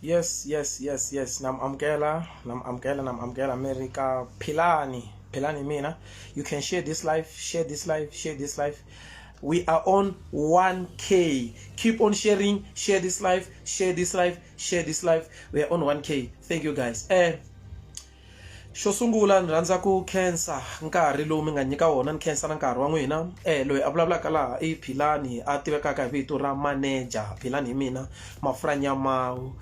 Yes yes yes yes nam amkela nam amkela nam amkela America philani philani mina you can share this life share this life share this life we are on 1k keep on sharing share this life share this life share this life we are on 1k thank you guys eh Xo sungula ni rhandza ku khensa nkarhi lowu mi nga nyika wona ni khensa na nkarhi wa n'wina loyi a vulavulaka laha i Philani a tivekaka hi vito ra manager Philani hi mina Mafurha Nyamawu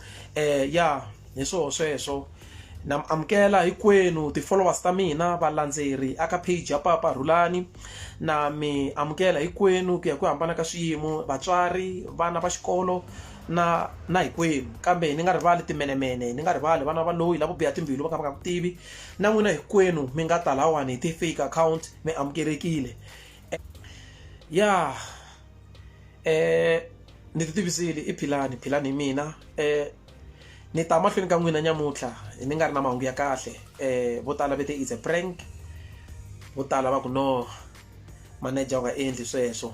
ya hi swoho sweswo na mi amukela hinkwenu ti-followers ta mina valandzeri a ka page ya Papa Rhulani na mi amukela hinkwenu ku ya hi ku hambana ka swiyimo vatswari vana va xikolo. na na hinkwenu kambe ni nga rivali timenemene ni nga rivali vana va loyi lavo biha timbilu va kha va nga ku tivi na n'wina hinkwenu mi nga ta lahawani hi ti-fake account mi amukelekile ya um ni ti tivisile i philani philani hi mina um ni ta mahlweni ka n'wina nyamuntlha ni nga ri na mahungu ya kahle um vo tala ve te is a prank vo tala va ku no manager u nga endli sweswo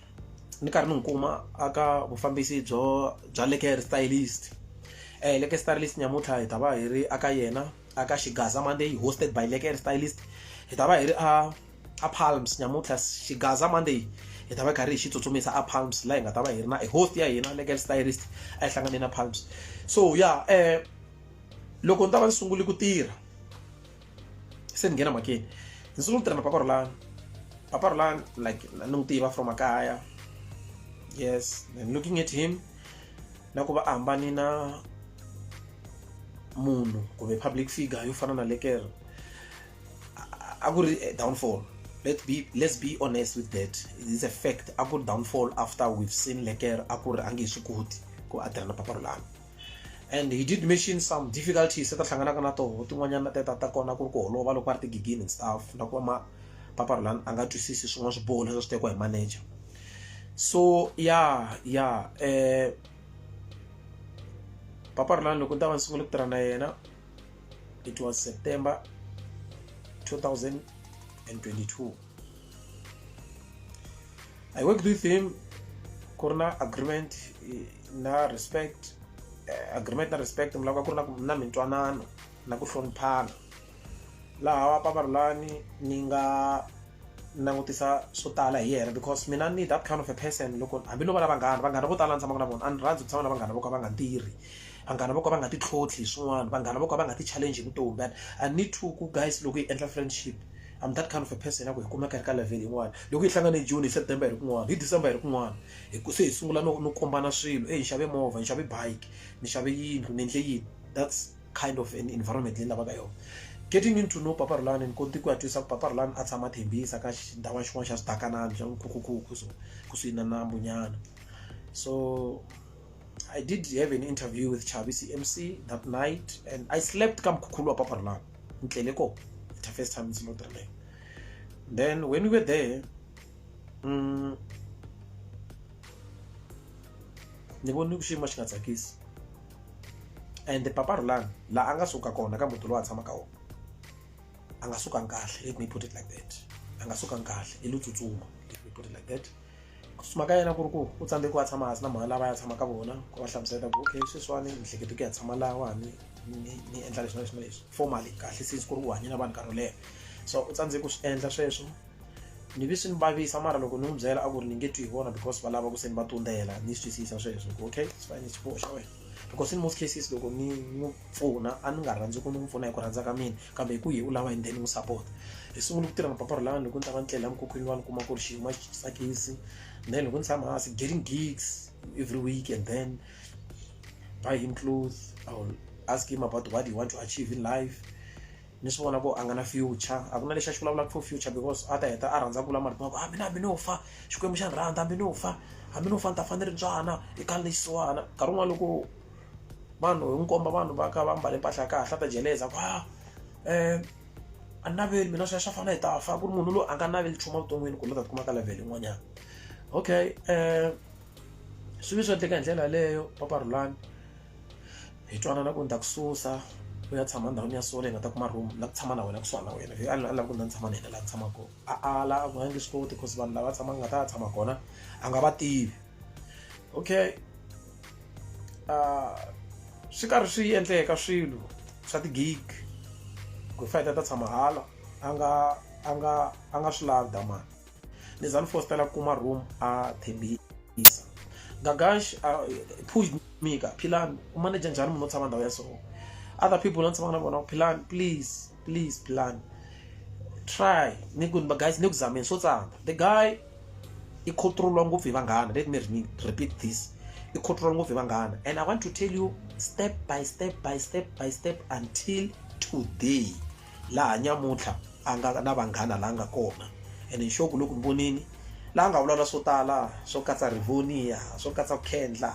ni karhi ni n'wi kuma aka vufambisi byo bya le care stylist eh le care stylist nyamuntlha hi ta va hi ri aka yena aka xigaza monday hosted by le care stylist hi ta va hi ri a a palms nyamuntlha xigaza monday hi ta va karhi hi xi tsutsumisa a palms laha hi nga ta va hi ri na e host ya hina le care stylist a yi hlangane na palms so ya eh loko ni ta va ni sungule ku tirha se ni nghena makeni ni sungula ku tirha na papa rolani papa rolani like ni n'wi tiva from makaya yes and looking at him na ku va a hambane na munhu kumbe public figure yo fana na lekere a ku ri eh, downfall let be let's be honest with that it's a fact a ku ri downfall after we've seen lekere a ku ri a nge swi koti ku a tirha na papa rolani and he did mention some difficulties leti a hlanganaka na toho tin'wanyana ta ta kona ku ri ku holova loko a ri tigigini and stuff na ku va ma papa Rhulani a nga twisisi swin'wana swiboho leswi swi tekiwa hi manager so ya ya eh papa Rhulani loko ni ta va ni sungule ku tirha na yena it was September 2022 I worked with him ku ri na agreement eh, na respect eh, agreement na respect mi lava ku ri na ku- na mintwanano na ku hloniphana laha paparulani ni nga langutisa swo tala hi yena because mina ni that kind of a person loko hambi no va na vanghana vanghana vo tala ni tshamaka na vona a ni rhandzi ku tshama na vanghana vo ka va nga tirhi vanghana vo ka va nga titlhotlhi hi swin'wana vanghana vo ka va nga ti-challenge hi vutomi and i need to ku guys loko hi endla friendship I'm that kind of a person ya ku hi kumeka hi ri ka level yin'wana loko hi hlangane hi June hi September hi ri kun'wana hi December hi ri kun'wana hi ku se hi sungula no no kombana swilo eyi ni xave movha ni xave bike ni xave yindlu ni endle yini that's kind of an environment leyi ni lavaka yona getting into no papa Rhulani ni kote ku ya twisa ku papa Rhulani a tshama Thembisa ka xindhawana xin'wana xa swidakanani xa nkhukhukhukhu so kusuhi na nambu nyana so I did have an interview with Chavi CMC that night and I slept ka mukhukhulu wa papa Rhulani Ntleleko, the first time it's not Ntleleko. Then when we were there, um, ni vone xiyimo xi nga tsakisi and papa rulani laha a nga suka kona ka muti lowu a tshamaka wona a nga sukangi kahle let me put it like that a nga sukangi kahle i lo tsutsuma let me put it like that tsutsuma ka yena ku ri ku u tsandzeki wa tshama hansi na mhani lava ya tshama ka vona ku va hlamusela ku okay sweswiwani ni hlekete ku ya tshama lawani ni ni endla leswi na leswi na leswi formally kahle since ku ri u hanye na vanhu nkarhi wo leha so u tsandzeki ku swi endla sweswo ni vi swi ni vavisa mara loko ni n'wi byela a ku ri ni nge twi hi vona because va lava ku se ni va tundzela ni swi twisisa sweswo ku okay it's fine it's xiboho xa wena because in most cases loko ni n'wi pfuna a ni nga rhandzi ku ni n'wi pfuna hi ku rhandza ka mina kambe hi ku hi u lava yini then ni n'wi support hi sungule ku tirha mapapa ra lani loko ni ta va ni tlela mukhukhwini wa ni kuma ku ri xiyimo a xi tsakisi then loko ni tshama hansi getting gigs every week and then buy him clothes I will ask him about what he want to achieve in life ni swi vona ku a nga na future a ku na lexi a xi vulavulaka for future because a ta heta a rhandza ku vula marito ma ku hambi na hambi no fa Xikwembu xa ni rhandza hambi no fa hambi no fa ni ta fa ni ri ntswana i kala lexiwani nkarhi wun'wana loko vanhu hi n'wi komba vanhu va ka va mbale mpahla ya kahle a ta jeleza ku ha um a ni naveli mina sweswo a fanele hi ta fa ku ri munhu loyi a nga naveli nchumu evuton'wini ku ni ta tikuma ka level yin'wanyana okay um swi ve swi endleka hi ndlela yaleyo papa Rhulani hi twanana ku ni ta ku susa u ya tshama ndhawini ya so leyi nga ta kuma room la ku tshama na wena kusuhana na wena a a lava ku ni tshama na yena laha ku tshama kona a ala a ku a nge swi koti because vanhu lava tshama nga ta tshama kona a nga va tivi okay swi karhi swi endleka swilo swa ti-gig ku fayita ta tshama hala a nga a nga a nga swi lavi damani Ni za ni fositela kuma room a thembisa. Gagash a pushed me ka Philani u manager njhani munhu o tshama ndhawu ya so. Other people la ni tshamaka na vona Philani please please Philani try ni ku guys ni ku zameni swo tsana. The guy i control-iwa ngopfu hi vanghana let me repeat this i control-iwa ngopfu hi vanghana and i want to tell you step by step by step by step until today laha nyamuntlha a nga na vanghana laha nga kona ene nxoku loko ni vonile la nga vulavula swo tala swo katsa rivonia swo katsa ku khendla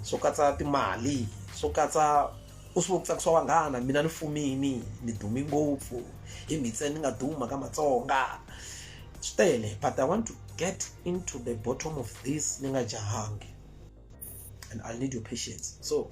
swo katsa timali swo katsa u swi vo ku tsakisa vanghana mina ni fumini ni dume ngopfu hi mi ntsena ni nga duma ka matsonga swi tele but i want to get into the bottom of this ni nga jahangi and i need your patience so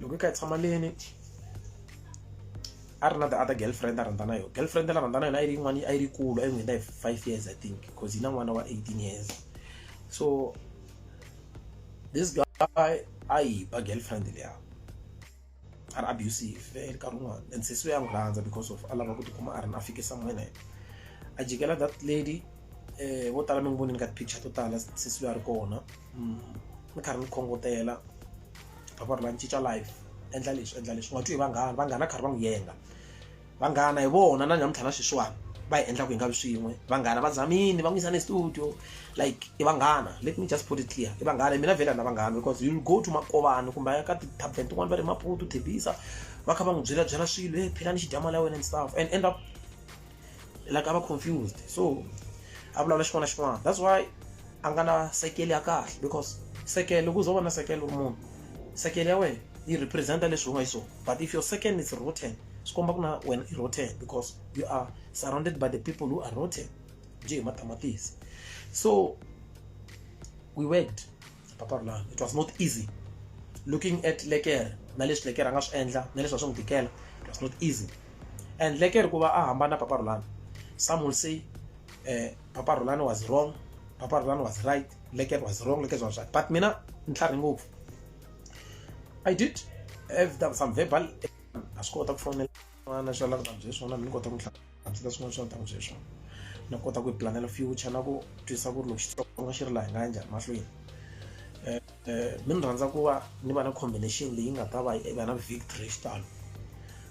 loko i kha i tshama leni a ri na the other girlfriend a rhandza na yona girlfriend la rhandza na yona a yi ri yin'wana a yi ri kulu a yi n'wi hi five years i think because yi na n'wana wa eighteen years so this guy a yi ba girlfriend leya a ri abusive eh, nkarhi wun'wana and sesi ya n'wi rhandza because of a lava ku tikuma a ri na fike somewhere na yena a jikela that lady eh vo tala mi n'wi vonini ka ti-picture to tala sesi a ri kona ni karhi ni khongotela a va ri la ni cinca life endla leswi endla leswi u nga twi hi vanghana vanghana karhi va n'wi yenga vanghana hi vona na nyamuntlha na sweswiwani va hi endlaku hi nga vi swin'we vanghana va zamini va n'wi yisa ne studio like i vanghana let me just put it clear i vanghana mina vhela na vanghana because you go to makovani kumbe a ya ka ti-taven tin'wani va ri maputu thebisa va kha va n'wi byela byela swilo e philani xidya mali ya wena and stuff and end up like a va confused so a vulavula xin'wana na xin'wana that's why a nga na sekele ya kahle because sekele loko u za u va na sekele u ri munhu sekele ya wena yi represent leswi u nga xiswona but if your second is rotten swi komba ku na wena i rotten because you are surrounded by the people who are rotten byi hi matamatisi so we worked papa ri lani it was not easy looking at lekere na leswi lekere a nga swi endla na leswi a swi n'wi tikela it was not easy and lekere ku va a hambana papa rulani some will say eh, papa rulani was wrong papa rulani was right lekere was wrong lekere was right but mina ni tlhari ngopfu i did have some verbal na swi kota ku fonela n'wana swa lava bye swona ni kota ku hansi ka swin'wana swa ntamu sweswo na kota ku yi planela future na ku twisisa ku ri loko xitsonga xi ri laha hi nga ya njhani mahlweni um mi ni rhandza ku va ni va na combination leyi nga ta va yi va na victory xitalo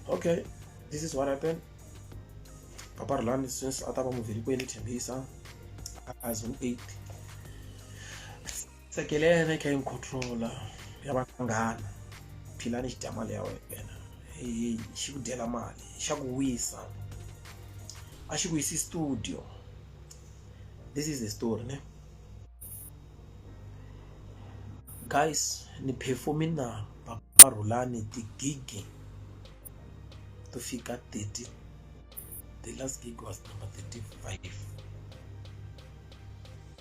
okay this is what happened papa rilani since a ta va muvheli ku yeni thembisa as an eight tsekelene kha incontrola ya vanghana philani xi dya mali ya wena hi xi ku dyela mali xa ku wisa a xi ku yisi studio this is the story ne guys ni performi na papa rhulani tigigi to fika 30 the last gig was number 35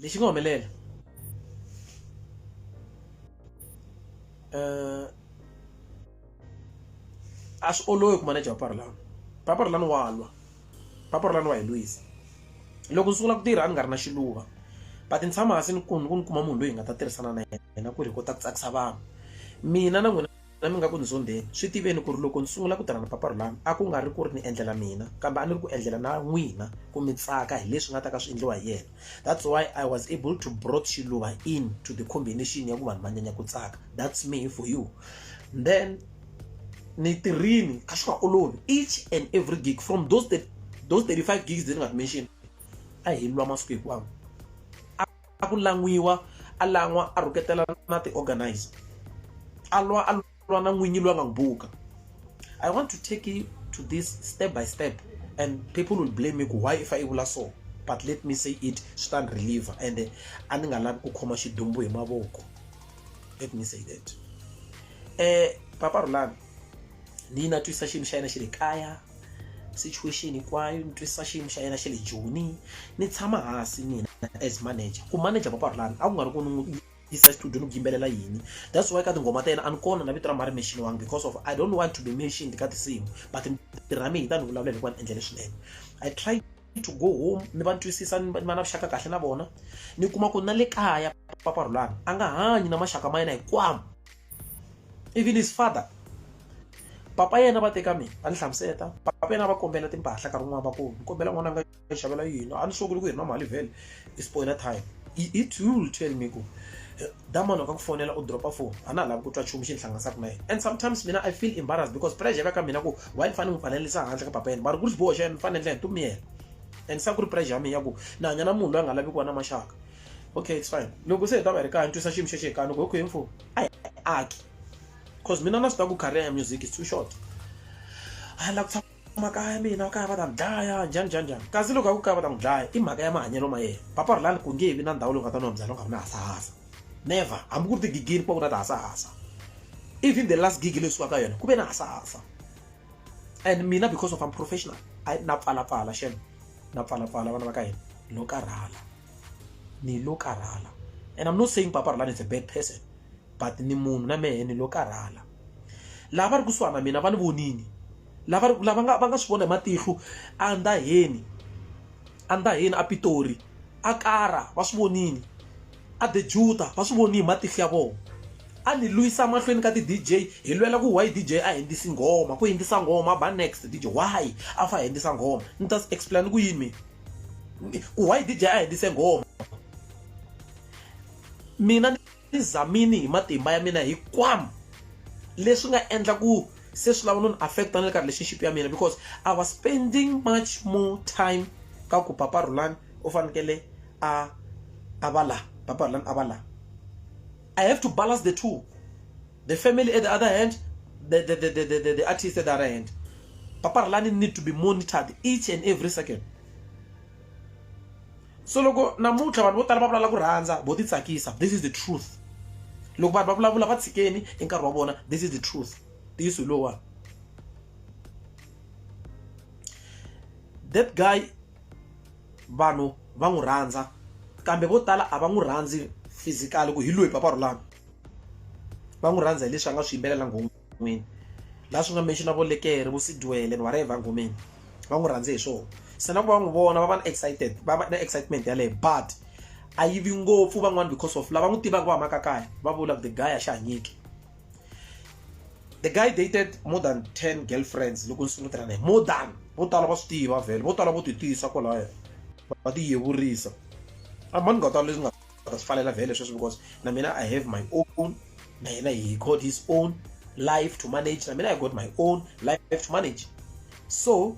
lexi nga humelela eh, a swi olovi ku maneja vaparulani vaparulani wa lwa vaparulani wa hi lwisa loko ni sungula ku tirha a ni nga ri na xiluva but ni tshama hansi ni ku ni kuma munhu loyi hi nga ta tirhisana na yena ku ri hi kota ku tsakisa vanhu mina na n'wina Nami nga ku ni zondheni. Swi tiveni ku ri loko ni sungula ku tirha na Papa Rhulani a ku nga ri ku ri ni endlela mina kambe a ni ri ku endlela na n'wina ku mi tsaka hi leswi nga ta ka swi endliwa hi yena. That's why I was able to brought Xiluva in to the combination ya ku vanhu va nyanya ku tsaka. That's me for you. Then ni tirhini a swi nga olovi each and every gig from those those 35 gigs leti ni nga ti mention a hi lwa masiku hinkwawo. a ku lan'wiwa a lan'wa a rhuketela na ti-organize a lwa a lwa na n'winyi loyi a nga n'wi buka i want to take you to this step by step and people will blame me ku why if i vula so but let me say it swi ta ni reliever ende a ni nga lavi ku khoma xidumbu hi mavoko let me say that um papa rhulani ni yi na twisa xiyimo xa yena xi ri kaya situation hinkwayo ni twisisa xiyimo xa yena xa le joni ni tshama hansi mina as manager ku manager papa rulani a ku nga ri ku ni yisa studio ni ku yimbelela yini that's why ka tinghoma ta yena a ni kona na vito ra mari mention wangi because of i don't want to be mentioned ka tinsimu but ntirha mina yi ta ni vulavulela hikuva ni endlele swinene i try to go home ni va twisisa ni va na vuxaka kahle na vona ni kuma ku na le kaya papa rhulani a nga hanyi na maxaka ma yena hikwamo even his father papa yena va teka mina va ni hlamuseta papa yena va kombela timpahla nkarhi wun'wana va ku ni kombela n'wana a nga xavela yini a ni sunguli ku hi ri na mali vhele i spoiler time it will tell me ku da munhu ka ku fonela u dropa phone a na ha lavi ku twa nchumu xi ni hlanganisaka na yena and sometimes mina i feel embarrassed because pressure ya ka mina ku why ni fanele ni pfalelisa handle ka papa yena mara ku ri xiboho xa yena ni fanele ndlela ntumiyela and sa ku ri pressure ya mina ya ku ni hanya na munhu loyi a nga lavi ku va na maxaka okay it's fine loko se hi ta va hi ri kaya ni twisa xiyimo xexo hi kani ku hi khuyeni foni a hi aki because mina na swi ta ku career ya music is too short a lava ku makaya ya mina kaya va ta dlaya njhani njhani njhani kasi loko a ku kaya va ta n'wi dlaya i mhaka ya mahanyelo ma yena papa ri lani ku nge vi na ndhawu leyi nga ta nwa byala u nga ri na hasahasa never hambi ku ri tigigini ku va ku na tihasahasa even the last gig leyi sukaka yona ku ve na hasahasa and mina because of am professional I, na pfalapfala xen na pfalapfala vana va ka hina lo karhala ni lo karhala and i'm not saying papa rilani is a bad person but ni munhu na mehe ni lo karhala lava va ri kusuhani na mina va ni vonini lava lava nga va nga swi vona hi matihlo a ndaheni a ndaheni a pitori a kara va swi vonini a the juta va swi voni hi matihlo ya vona a ni lwisa mahlweni ka ti-dj hi lwela ku why dj a hindzisi nghoma ku hindzisa nghoma ba next dj why a fa hindzisa nghoma ni ta explain ku yini mina ku why dj a hindzise nghoma mina Tizamini hi matimba ya mina hikwam leswi nga endla ku se swi lava no ni affecta na le ka relationship ya mina because I was spending much more time ka ku papa Rhulani u fanekele a a va la papa Rhulani a va la I have to balance the two the family at the other hand the the the the the, the artist at the other hand papa Rhulani need to be monitored each and every second so loko namuntlha vanhu vo tala va vulala ku rhandza vo ti tsakisa this is the truth loko vanhu va vulavula va tshikeni i nkarhi wa vona this is the truth ntiyiso hi lowuwani that guy vanhu va n'wi rhandza kambe vo tala a va n'wi rhandzi physically ku hi loyi papa rulani va n'wi rhandza hi leswi a nga swi yimbelela nghomu n'wini laha swi nga mixo na vuleteri vu sidwele vanhu va ri evangomeni va n'wi rhandze hi swona se na ku va n'wi vona va va na excited va va na excitement yaleyo but a yi vi ngopfu van'wana because of lava n'wi tivaka va humaka kaya va vula the guy a xi hanyiki the guy dated more than 10 girlfriends loko ni sungula tirha naye more than vo tala va swi tiva vhele vo tala vo ti tiyisa kwalayo va ti yevurisa a mani nga tala leswi nga ta swi fanela vhele sweswo because na mina i have my own na yena he called his own life to manage na mina i got my own life to manage so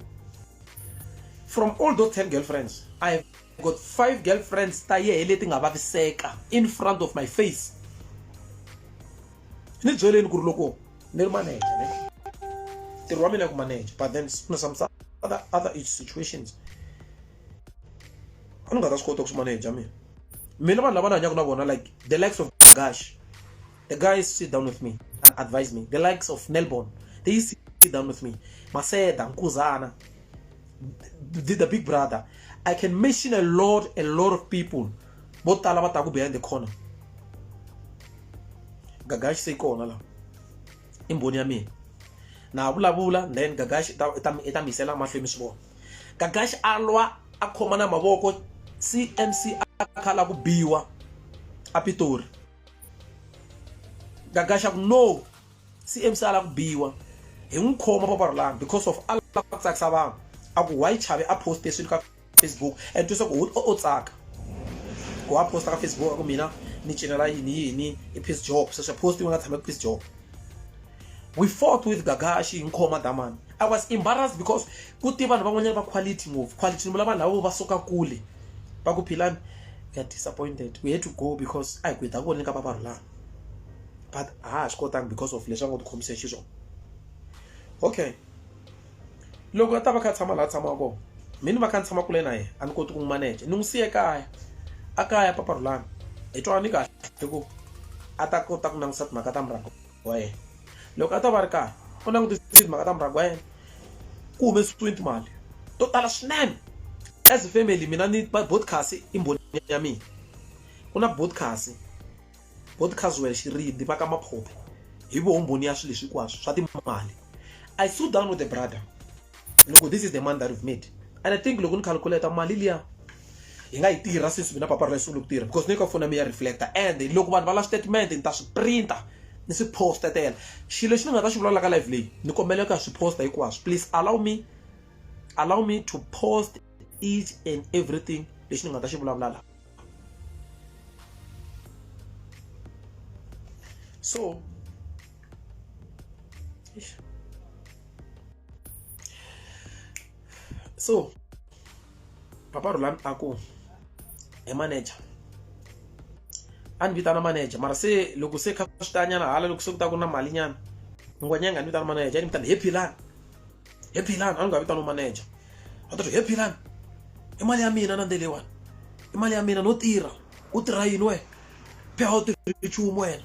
from all those 10 girlfriends i have got five girlfriends ta yehe leti nga vaviseka in front of my face ni byeleni ku ri loko ni ri manager ne ntirho wa mina ku manager but then kuna some other, other situations a ni nga ta swi kota ku swi maneja mina mina vanhu lava ni hanyaka na vona like the likes of gash the guys sit down with me and advise me the likes of nelbon they sit down with me maseda nkuzana the, the big brother i can mention a lot a lot of people vo tala va taku behind the corner gagashi se yi kona la i mbhoni ya mina na vulavula then gagashi i ta mi yisela mahlweni swi vona gagaxi a lwa a khomana mavoko cmc a kha la ku biwa a pitori gagaxi a ku no cmc a la ku biwa hi n'wi khoma paparolani because of a lava ku tsakisa vanhu a ku why chavi a poste swilo ka facebook and twisa ku o tsaka ku a posta ka facebook a ku mina ni cinela yini yini i peace job sweswi post yi nga tshama ku peace job we fought with gagashi hi nkhoma damani i was embarrassed because ku te vanhu van'wanyana va quality ngopfu quality ni vula vanhu lavo va suka kule va ku philani we are disappointed we had to go because a hi ku hi ta ku voneni ka vavarhulana but a ha swi kotangi because of leswi a ngo tikhomise xiswona okay loko a ta va kha tshama laha tshamaka kona mi ni va kha ni tshama kule na yena a ni koti ku n'wi maneja ni n'wi siye kaya a kaya paparhulana hi twanani kahle hi ku a ta kota ku langusa timhaka ta murhango wa yena loko a ta va ri karhi u langutisile timhaka ta murhangi wa yena ku humesiwe timali to tala swinene as a family mina ni podcast i mbhoni ya mina ku na podcast podcast wena xirindi va ka maphophe hi voho mbhoni ya swilo leswi hinkwaswo swa timali i threw down with the brother loko this is the money that we've made and i think loko ni calculate mali liya hi nga yi tirha since mina papara yi sungule ku tirha because ni ka foni ya mi ya reflector and loko vanhu va la statement ni ta swi printa ni swi posta tela xilo lexi ni nga ta xi vulavula ka live leyi ni kombela ku ya swi posta hinkwaswo please allow me allow me to post each and everything lexi ni nga ta xi vulavula la so Ich. So, Papa Roland Ako, a manager. a ni vitana manager mara se loko se kha swi tanyana hala loko se ku ta ku na mali nyana ngwanyanga a ni vitana manager a ni vitana happy lan happy lan a ni nga vitana manager a ta happy lan i mali ya mina na ndelewana i mali ya mina no tirha u tirha yini wena phela u tirhi nchumu wena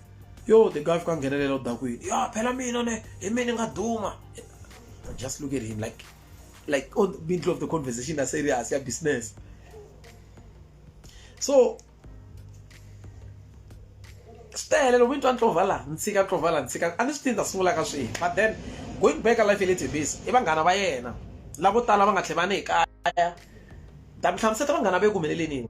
yo the guy fika nghenelela u da ku yini ya phela mina ne hi mina ni nga duma just look at him like like on the middle of the conversation a serious ya business so swi tele loko mi twa ntlova laha ni tshika ntlova laha ni tshika a ni swi tivi ta sungula ka swihi but then going back a life ya le tebisi i vanghana va yena lavo tala va nga tlhe va ni hi kaya ta mi hlamuseta vanghana va eku humeleleni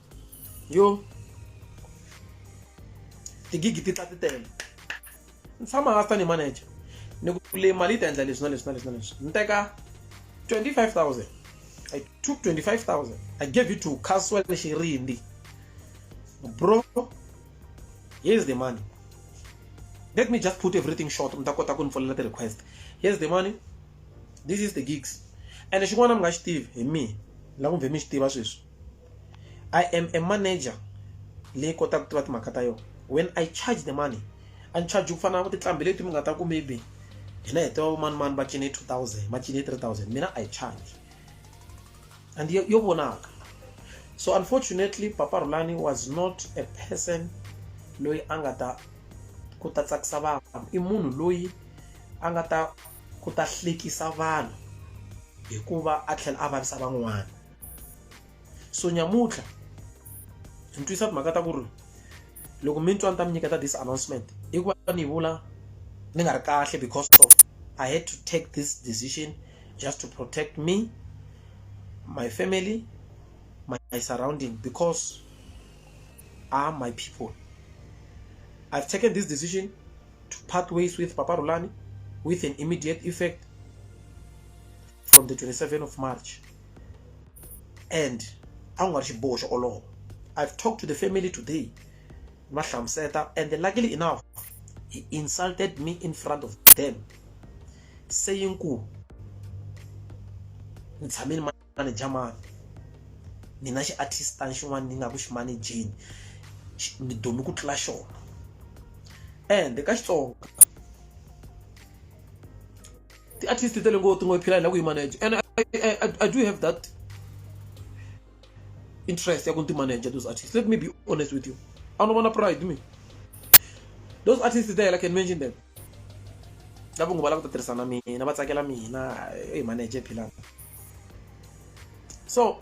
yo tigigi ti tla ti tele ni tshama hansi tanihi manager ni ku le mali yi ta endla leswi na leswi na leswi na leswi ni teka 25000 i took 25000 i gave it to caswell xirindi bro here's the money let me just put everything short mi ta kota ku ni folela ti-request here's the money this is the gigs ene xin'wana mi nga xi tivi hi mina la ku mve mi xi tiva sweswi I am a manager leyi kotaka ku tiva timhaka ta yona when I charge the money a ni charge ku fana na tinqambi leti mi nga ta ku maybe hina hi tiva vamanimani va cine two thousand va cine three thousand mina I charge and yo yo vonaka so unfortunately papa Rhulani was not a person loyi a nga ta ku ta tsakisa vanhu i munhu loyi a nga ta ku ta hlekisa vanhu hikuva a tlhela a vavisa van'wana so nyamutlha ni twisa timhaka ta ku ri loko mi twa ni ta mi nyiketa this announcement i ku va ni vula ni nga ri kahle because of i had to take this decision just to protect me my family my, my surrounding because are my people i've taken this decision to part ways with papa rulani with an immediate effect from the 27th of march and a ku nga ri xiboho xo olova i've talked to the family today ni va hlamuseta and luckily enough he insulted me in front of them saying ku ni tshame ni maneja mani mina xi artistani xin'wana ni nga ku xi manejeni ni dumi ku tlula xona and ka xitsonga ti at least tele ngo tingo phila la ku manage and I, I, I do have that interest ya ku manage those artists let me be honest with you I don't want to pride me those artists there I can mention them lava ngo bala ku tirhisana mina va tsakela mina hey manager philana so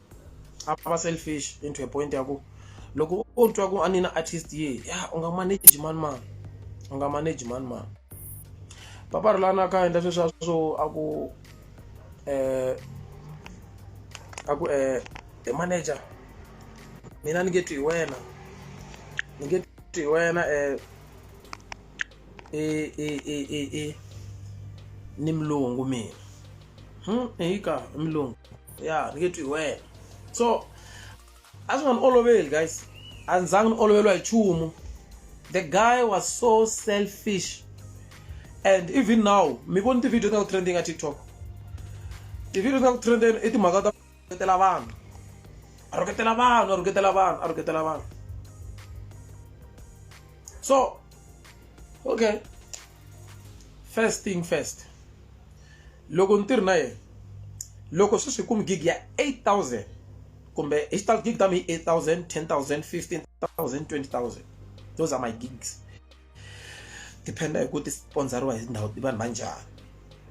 a va selfish into a point ya ku loko u twa ku a ni na artist ye ya u nga manage mani mani u nga manage mani mani papa rilana ka endla sweswa swo a ku um a ku um hi manager mina ni nge twi hi wena ni nge twi hi wena um e e e e e ni mulungu mina hmm hi ka i mulungu ya ni nge twi hi wena so a swi nga ni oloveli guys a ndzi zangi ni oloveriwa hi nchumu the guy was so selfish and even now mi voni ti-video ta ku trending a tiktok ti-video ta ku trending i timhaka ta rhuketela vanhu a rhuketela vanhu a rhuketela vanhu a rhuketela vanhu so okay first thing first loko ni tirhi na yena loko sweswi kumi gig ya 8000 kumbe hi xitalo gig ta mi 8000 10000 15000 20000 those are my gigs depend-a hi ku ti sponsoriwa hi ndhawu ti vanhu va njhani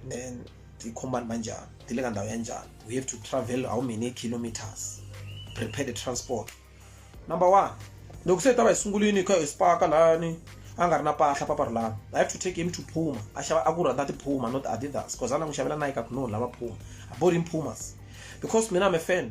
then ti khombani va njhani ti le ka ndhawu ya njhani we have to travel how many kilometers prepare the transport number one loko se hi ta va hi sungulini hi kha hi spaka lani a nga ri na pahla paparulani i have to take him to phuma a xava a ku rhandza tiphuma not adidas because a na n'wi xavela nike a ku no lava phuma a bought him pumas because mina i'm a fan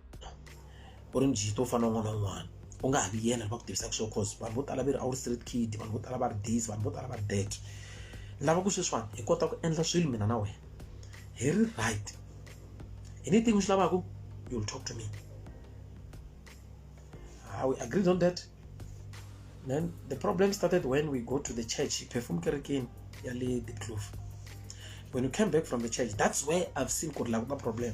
u ri njhe to fana na un'wana na un'wana u nga ha vi yena va ku tivisaka swona cause vanhu vo tala va ri a wu ri street kid vanhu vo tala va ri this vanhu vo tala va ri that ni lava ku sweswiwani hi kota ku endla swilo mina na wena hi ri right anything u swi lavaka you will talk to me ah, we agreed on that then the problem started when we go to the church perfume kerekeni ya le the clove when you came back from the church that's where i've seen ku ri lava ku nga problem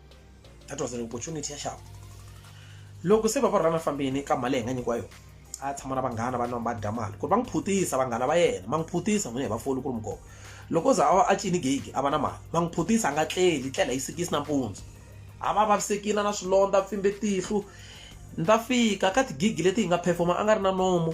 that was an opportunity ya xava loko se va va rhulana fambini ka mali leyi nga nyikiwa yona a tshama na vanghana va nwa va dya mali ku ri va n'wi phutisa vanghana va yena va n'wi phutisa n'wina hi vafoli ku ri mukova loko o za a va a cini gigi a va na mali va n'wi phutisa a nga tleli tlela yi sikisi nampundzu a va vavisekile na swilondza pfimbe tihlo ni ta fika ka tigigi leti hi nga performa a nga ri na nomo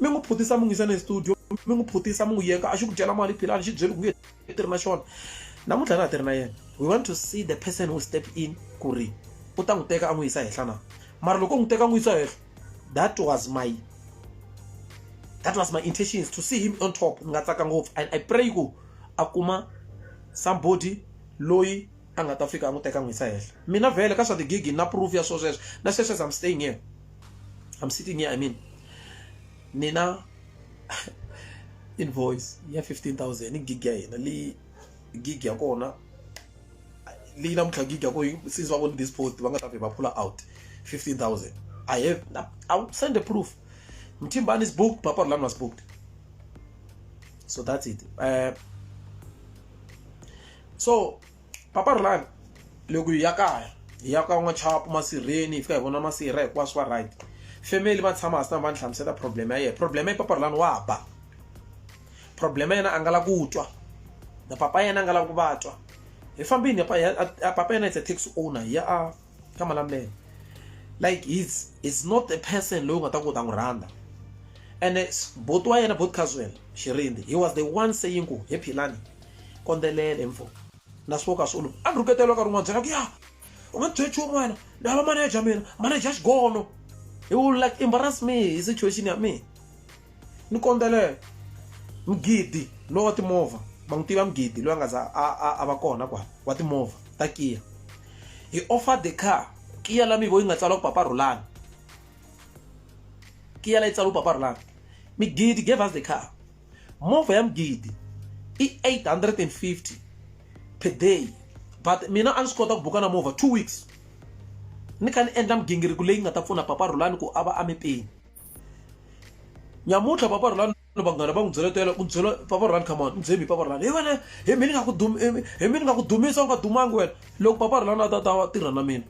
mi n'wi phutisa mi n'wi yisa ne studio mi n'wi phutisa mi n'wi yeka a xi ku dyela mali philani xi byeli ku nge i tirhi na xona namuntlha na ha tirhi na yena we want to see the person who step in ku ri u ta n'wi teka a n'wi yisa henhla na mara loko u n'wi teka a n'wi yisa henhla that was my that was my intentions to see him on top ni nga tsaka ngopfu and i pray ku a kuma somebody loyi a nga ta fika a n'wi teka n'wi yisa henhla mina vhele ka swa tigigi na proof ya swo sweswo na sweswes am staying here I'm sitting here, I mean, Nina invoice ya 15000 ni gig ya hina leyi gig ya kona leyi namuntlha gig ya kona since va vone this post va nga ta vhe va phula out 15000 i have i will send a proof mthimbani is booked papa rulani was booked so that's it uh, so papa Rhulani loko hi ya kaya hi ya ka n'wachapu masirheni hi fika hi vona masirha hinkwaswo va right family va tshama hasi va ni hlamusela problem ya yena problem ya papa Rhulani wa ba problem ya yena a nga la ku twa na papa yena a nga la ku va twa hi fambini papa yena is a taxi owner hi ya a ka malamulele like he's is not a person loyi u nga ta ku ta n'wi rhandza ene boti wa yena boti Caswell Xirindi he was the one saying ku hi philani kondzelele mfo na swivoka swi olova a ni rhuketela ka rin'wana byela ku ya u nga byeli nchumu wena ni hava maneja mina maneja xigono he will like embarrass me hi situation ya mina ni kondzelele mugidi lowa wa timovha va n'wi tiva mugidi loyi a nga za a va kona kwala wa timovha ta kiya hi offer the car kiya la mivo yi nga tsala ku papa rhulani kiya la yi tsala ku papa rhulani migidi gave us the car movha ya mugidi i 850 per day but mina a ni swi kota ku buka na movha two weeks ni kha ni endla migingiriko leyi nga ta pfuna papa rhulani ku a va a mepeni nyamuntlha papa rhulani vanghana va n'wi byela tela u byela papa rhulani come on mbyemi papa rhulani hi wena hi mi ni nga ku hi mi ni nga ku dumisa u nga dumangi wena loko papa rhulani a ta ta tirha na mina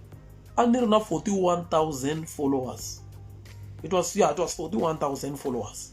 a ni ri na 41000 followers it was yeah it was 41000 followers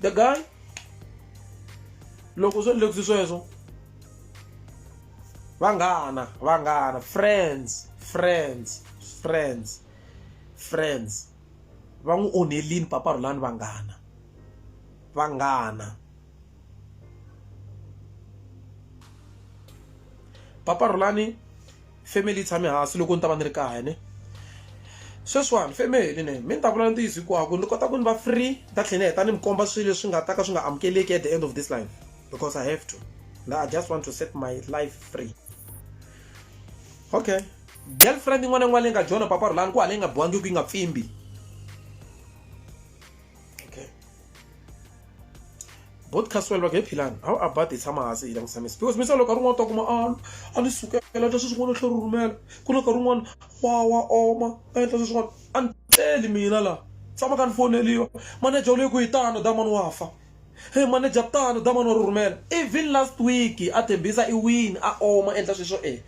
the guy loko swo ndlekisi sweswo vanghana vanghana friends friends friends friends va n'wi onhelini papa rhulani vanghana vanghana papa rhulani family yi tshame hansi loko ni ta va ni ri kaya ne sweswiwani family ne mi ni ta vula ntiyiso hikwako ni kota ku ni va free ni ta tlhela ni heta ni mi komba swilo leswi nga ta ka swi nga amukeleki at the end of this life because i have to na i just want to set my life free okay girlfriend yin'wana yin'wana leyi nga jona papa rhulani ku hala yi nga biwangi ku yi nga pfimbi both caswell va nge philani how about hi tshama hansi hi langutisa mesi because misa loko a rin'wana ta kuma a a ni sukela ta sweswin'wana tlhe ri rhumela ku na ka rin'wana wa wa oma a endla sweswin'wana a ni tleli mina laha tshama ka ni foneliwa manager u le ku yi tano damani wa fa he manager tano damani wa ri rhumela even last week a tshembisa i wini a oma endla sweswo e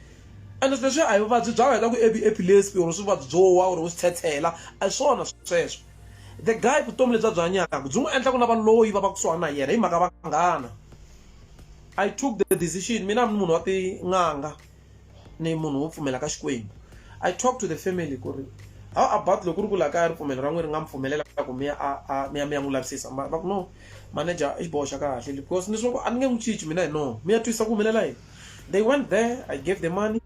ene sweswi a hi vuvabyi bya wena ku ebi epilepsy or swivabyi byo wa or u swi tshetshela a hi swona sweswo The guy vutomi lebyi a byi hanyaka byi n'wi endla ku lava loyi va va kusuhana na yena hi mhaka vanghana. I took the decision mina a ni munhu wa tin'anga ni munhu wo pfumela ka Xikwembu. I talk to the family ku ri how about loko ku ri ku laha kaya ripfumelo ra n'wina ri nga mi pfumelela ku mi ya a mi ya mi ya n'wi lavisisa va ku no manager i xiboho xa kahle because ni swi vona ku a ni nge n'wi cinci mina hi noho mi ya twisisa ku humelela yini. they went there i gave the money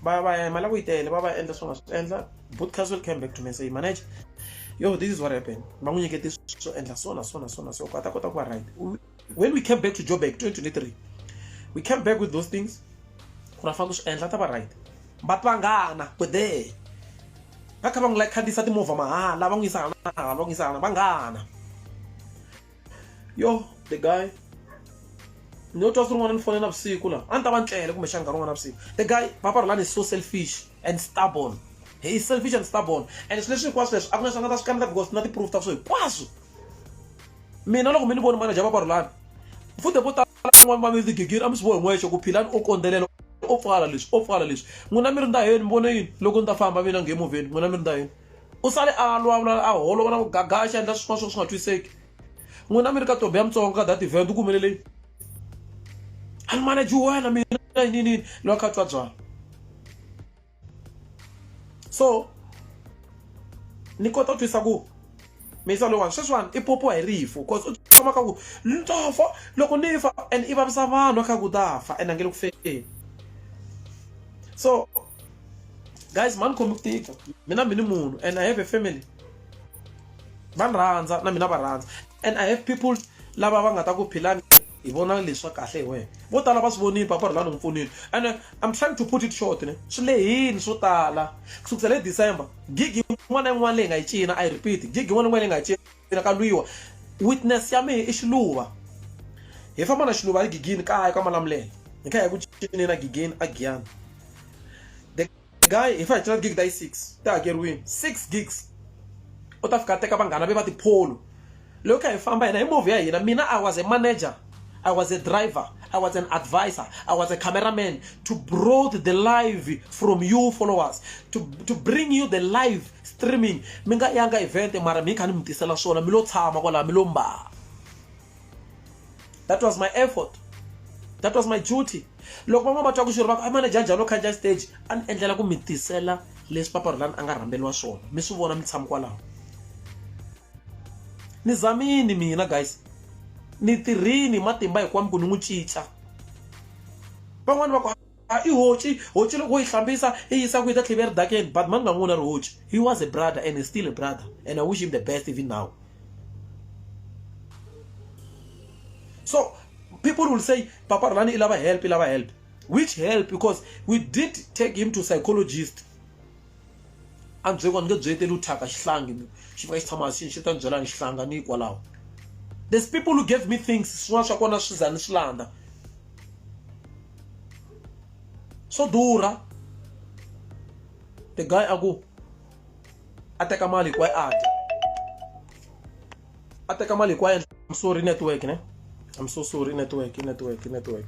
va va ya mali ku yi tele va va endla swi nga swi endla boot castle came back to me and say manager yo this is what happened va n'wi nyikete swo endla so na so na so na so ku a ta kota ku va right when we came back to joburg 2023 we came back with those things ku ra fanele ku swi endla ta va right va pangana ku there va kha va n'wi like khandziyisa timovha mahala va n'wi yisa hala na hala va n'wi yisa hala vanghana yo the guy ni yo twa swi rin'wana ni fone navusiku laha a ni ta va ni tlele kumbexana nkarhi wun'wana navusiku the guy papa rilani is so selfish and stubborn he is selfish and stubborn and swilo leswi hinkwaswo leswi a ku na swi nga ta swi kambela because na ti-proof ta swo hinkwaswo mina loko mi ni voni manager papa rilani futhi vo talan'wana va mi ndzi gigiri a mi swi vohi n'wexe ku philani o kondzelela o pfala leswi o pfala leswi n'wina mi ri ndaheni mi vone yini loko ni ta famba mina ngemuvheni n'wina mi ri ndaheni u sale a lwa vula a holova na ku gaga a xi endla swin'wana swo ka swi nga twiseki n'wina mi ri ka tobe ya mutsongo ka that event u ku humeleleni a ni manage wena mina yiniyini lowa kha twa byala so ni kota ku twisa ku misa lowani sweswiwani i popiwa hi rifu bcause u tshama ka ku ni ta fa loko ni fa and i vavisa vanhu a kha ku ta fa and a nge le ku feni so guys mani khomi ku tika mina mi ni munhu and i have a family va ni rhandza na mina va rhandza and i have people lava va nga ta ku philani hi vona leswa kahle hi wena vo tala va swi vonile papa rhulani n'wi pfunile and uh, i'm trying to put it short ne swi lehini swo tala ku sukisela hi december gig yin'wana na yin'wana leyi nga yi cina i repeat gig yin'wana na yin'wana leyi nga yi cina Pele ka lwiwa. Witness ya mehe i xiluva. Hi famba na xiluva hi Gigini kaya ka Malamulele. Hi kha hi ku cinina Gigini a Giyani. The guy hi fa hi cina gig ta yi six ti hakeriwini six gigs. U ta fika a teka vanghana ve va tipholo. Loko hi kha hi famba hina hi movha ya hina mina I was a manager. I was a driver, I was an advisor, I was a cameraman to broad the live from you followers, to, to bring you the live streaming. Mi nga yanga event mara mi kha ni mi tisela swona mi lo tshama kwala mi lo mbala. That was my effort. That was my duty. Loko van'wana va twa ku xirho va ku a manager njhani u khandziya stage a ni endlela ku mi tisela leswi paparulani a nga rhamberiwa swona mi swi vona mi tshama kwalaho ni zamini mina guys ni tirhini matimba hikwami ku ni n'wi cinca van'wani va ku a i hoci hoci loko wo yi hlambisa i yisa ku yi ta tlheve eridakeni but mani nga n'wi vona ri hoci he was a brother and is still a brother and i wish him the best even now so people will say papa rani i lava help i lava help which help because we did take him to psychologist andzheko a ni nge byi eteli u thyaka xihlangi ni xi fika xi tshama xi xi ta ni byela ni xihlanga ni hikwalaho there's people who gave me things swin'wana swa kona swi za ni swi landza swo durha the guy a ku a teka mali hinkwayo a dya a teka mali hinkwayo I'm sorry network ne I'm so sorry network network network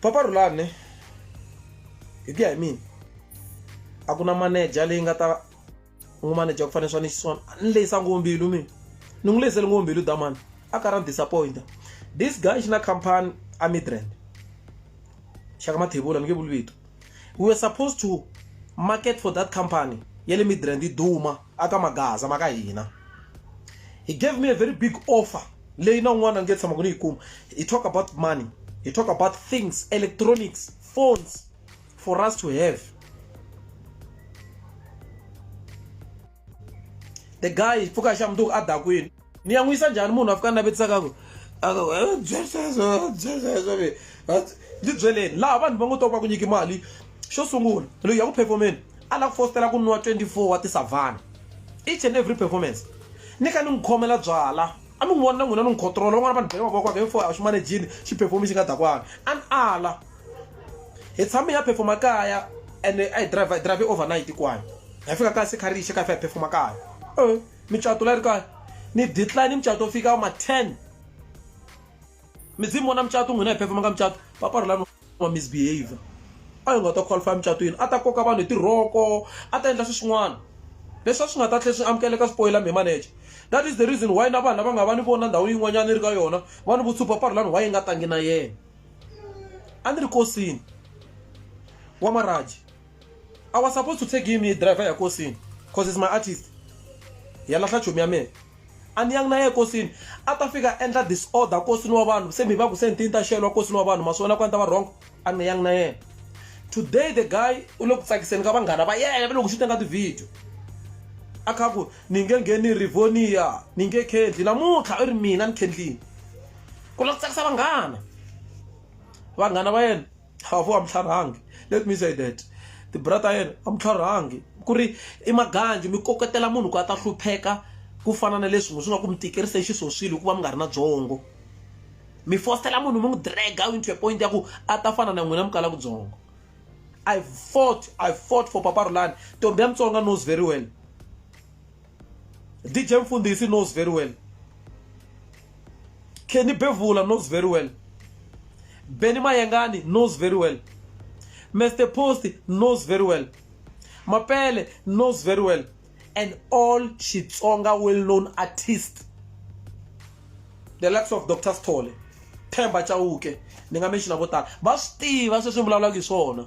papa rhulani hi ku ya hi mina a ku na manager leyi nga ta n'wi manager ku fanele swa ni xiswona ni lehisa ngopfu mbilu mina ni n'wi lehisele ngopfu mbilu damani a ka ra ni disappointa this guy xi na company a midrand xaka mathebula ni nge vuli vito we were supposed to market for that company ya le midrand yi duma aka magaza maka hina he gave me a very big offer leyi na un'wana a nge tshama ku ni yi kuma he talk about money he talk about things electronics phones for us to have the guy pfuka xa mundzuku a dakwini ni ya n'wi yisa njhani munhu a fika navetisaka ku ndzi byeleni laha vanhu va ngo to va ku nyiki mali xo sungula loyi ya ku performeni a lava ku fositela ku nwa 24 wa tisavhana each and every performance ni ka ni n'wi khomela byala a mi n'wi vona na n'wina ni n'wi controla van'wana vanhu bele mavoko ake fo a swi manejini xi performi xi nga dakwana a ni ala hi tshame ya performa kaya and a hi drive hi drive overnight kwayo hi fika kaya se kharixi ka hi fa hi performa kaya micato la ri kaya ni decline micato yo fika ma 10 mi dzi mi vona micato n'wina hi phefemanga micato papa ri lani wa misbehavior a hi nga ta qualify micato yini a ta koka vanhu hi tirhoko a ta endla swi swin'wana leswi a swi nga ta tlhe swi amukeleka spoiler me manager that is the reason why na vanhu lava nga va ni vona ndhawu yin'wanyana ri ka yona va ni vutshupha papa ri lani why yi nga tangi na yena a ni ri kosini wa maraji I was supposed to take him driver ya kosini cause is my artist ya lahla chomi ya mina a ni yangi na ye kosini a ta fika endla disorder kosini wa vanhu se mi va ku se ni tini ta xelwa kosini wa vanhu ma swi vona ku a ni ta va wrong a ni yangi na yena today the guy u le ku tsakiseni ka vanghana va yena va le ku xi tenga tivhidiyo a kha ku ni nge ngheni rivonia ni nge khendli namuntlha u ri mina ni khendlini ku lava ku tsakisa vanghana vanghana va yena a vo a mi tlharhangi let me say that tibrata yena a mi tlharhangi ku ri i maganji mi koketela munhu ku a ta hlupheka ku fana na leswi swi nga ku mi tikerisa xisoswile hikuva mi nga ri na byongo mi fostela munhu mi n'wi draga into a point ya ku a ta fana na n'wina mi kala kutsongo i fought i fought for papa rulani ntombi ya mutsonga knows very well DJ Mfundisi knows very well. Kenny Bevula knows very well. Benny Mayengani knows very well. Mr. Post knows very well. Mapele knows very well. And all Shitsonga well-known artists. The likes of Dr. Stole, Themba Chauke, ni nga mention vo tala. Va swi tiva sweswi ni vulavulaka hi swona.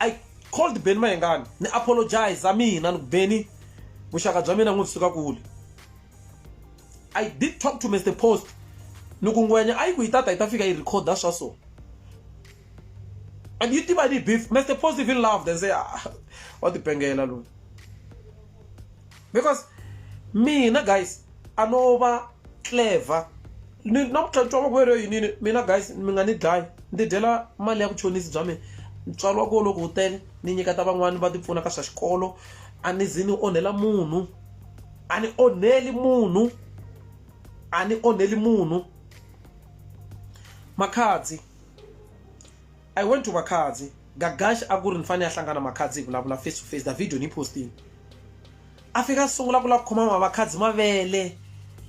i called benny mayengani ni apologize a mina ni ku benny vuxaka bya mina n'wi suka kule i did talk to mr post ni ku ngwenya a yi ku yi tata yi ta fika yi recorda swa so and yi tiva ni beef mr post even loved and say ah, wa tipengela loyi because mina guys a no va clever ni namuntlha ntswalo wa ku yeleyo yinini mina guys mi nga ni dlayi ndzi dyela mali ya vuchonisi bya mina ntswalo wa ku loko wu tele ni nyiketa van'wani va tipfuna ka swa xikolo a ni zi ni onhela munhu a ni onheli munhu a ni onheli munhu makhadzi I went to Makhadzi. Gagash a ku ri ni fanele a hlangana Makhadzi hi vulavula face to face. The video ni yi postile. A fika a sungula ku lava ku khoma Makhadzi mavele.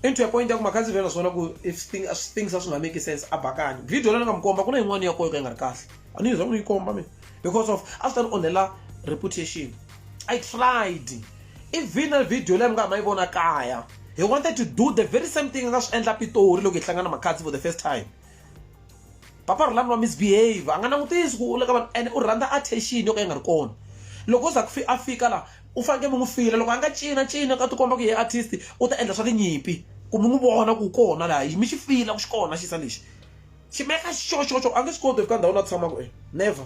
And to a point ya ku Makhadzi vhela swona ku if thing, things a swi nga make sense a bakani. Video leyi ni nga mi komba ku na yin'wana ya koho yo ka yi nga ri kahle. A ni yi za ni yi komba mina because of a swi ta ni onhela reputation. I tried. Even na video leyi mi nga ha ma yi vona kaya. He wanted to do the very same thing a nga swi endla Pitori loko hi hlangana Makhadzi for the first time. papa ri lani wa misbehave a nga langutisi ku u le ka vanhu ene u rhandza attention yo ka yi nga ri kona loko u za ku a fika laha u fanekele mi n'wi fila loko a nga cina cina ka tikomba ku ye artist u ta endla swa tinyimpi ku mi n'wi vona ku kona laha yi mi xi fila ku xi kona xisa lexi xi meka xoxoxo a nge swi koti fika ndhawu la tshamaka e never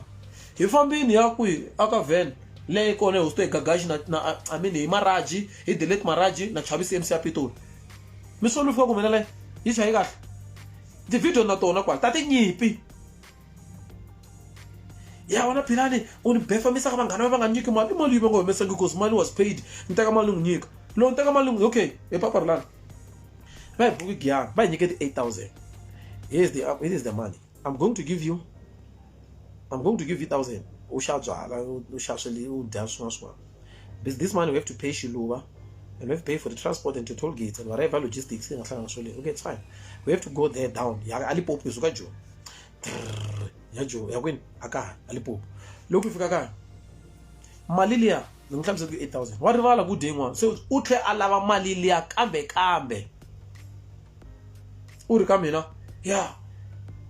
hi fambini ya kwihi a ka van leyi kona hi hosi to hi gagaxi na na i mean hi maraji hi delete maraji na chavisi mc ya pitoli mi solo fika ku mina leyi yi chayi kahle Tivhidiyo na tona kwala ta tinyimpi. Ya wena Philani u ni befamisa ka vanghana va va nga nyiki mali i mali yi va nga humesangi because mali was paid ni teka mali ni n'wi nyika loko ni teka mali ni n'wi okay hi papa rilani va hi buki giyani va hi nyike ti-eight thousand here is the, here is the money i'm going to give you i'm going to give you thousand u xa byala u xa swili u dya swin'wana swin'wana This, this money we have to pay Shiluva and we have to pay for the transport and to toll gates and whatever logistics thing ahlangana swo okay it's fine we have to go there down ya alipopo izuka jo ya jo ya kwini aka alipopo loko fika ka mali liya ni n'wi hlamise ku 8000 wa rivala ku dye yin'wana se u tlhe a lava mali liya kambe kambe u ri ka mina ya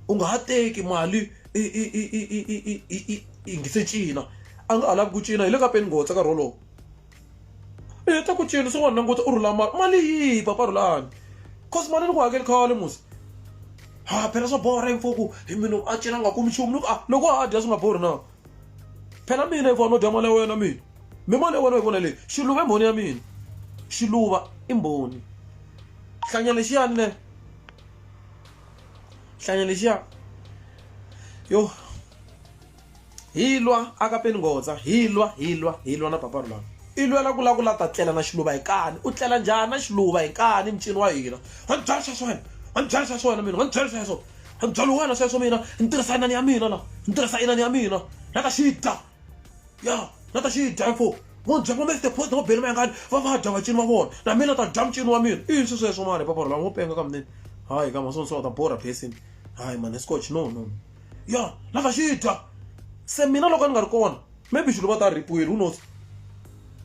u nga ha teki mali i i i i i i i i i i ngi se cina a nga ha lavi ku cina hi le ka peni ngotsa nkarhi wolowo i heta ku cina se n'wana languta u rhula mali mali yihi papa rhulani cause mali ni ku hakeli khale musi ha phela swa borha info ku hi munhu a cina a nga kumi nchumu ni ku a loko a dya swi nga borhi na phela mina hikuva no dya mali ya wena mina mi mali ya wena yi vona leyi xiluva i mbhoni ya mina xiluva i mbhoni hlanya lexiyani ne hlanya lexiya yo hi lwa aka peni nghoza hi lwa hi lwa hi lwa na paparu lava i lwela ku la ku la ta tlela na xiluva hi kani u tlela njhani na xiluva hi kani mucini wa hina wa ni byela swa swona wa ni byela swa swona mina wa ni byela swa swona Hi ku byala wena sweswo mina ni tirhisa inani ya mina la ni tirhisa inani ya mina na ta xi dya ya na ta xi dya info vo byela ma the post va bele mayangani va va dya vacini va vona na mina ta dya mucini wa mina i yini swi sweswo mani papa lava ngo penga ka mina hayi ka masono so ta borha basin hayi mani scotch no no ya na ta xi dya se mina loko ni nga ri kona maybe xilo va ta ripiwile who knows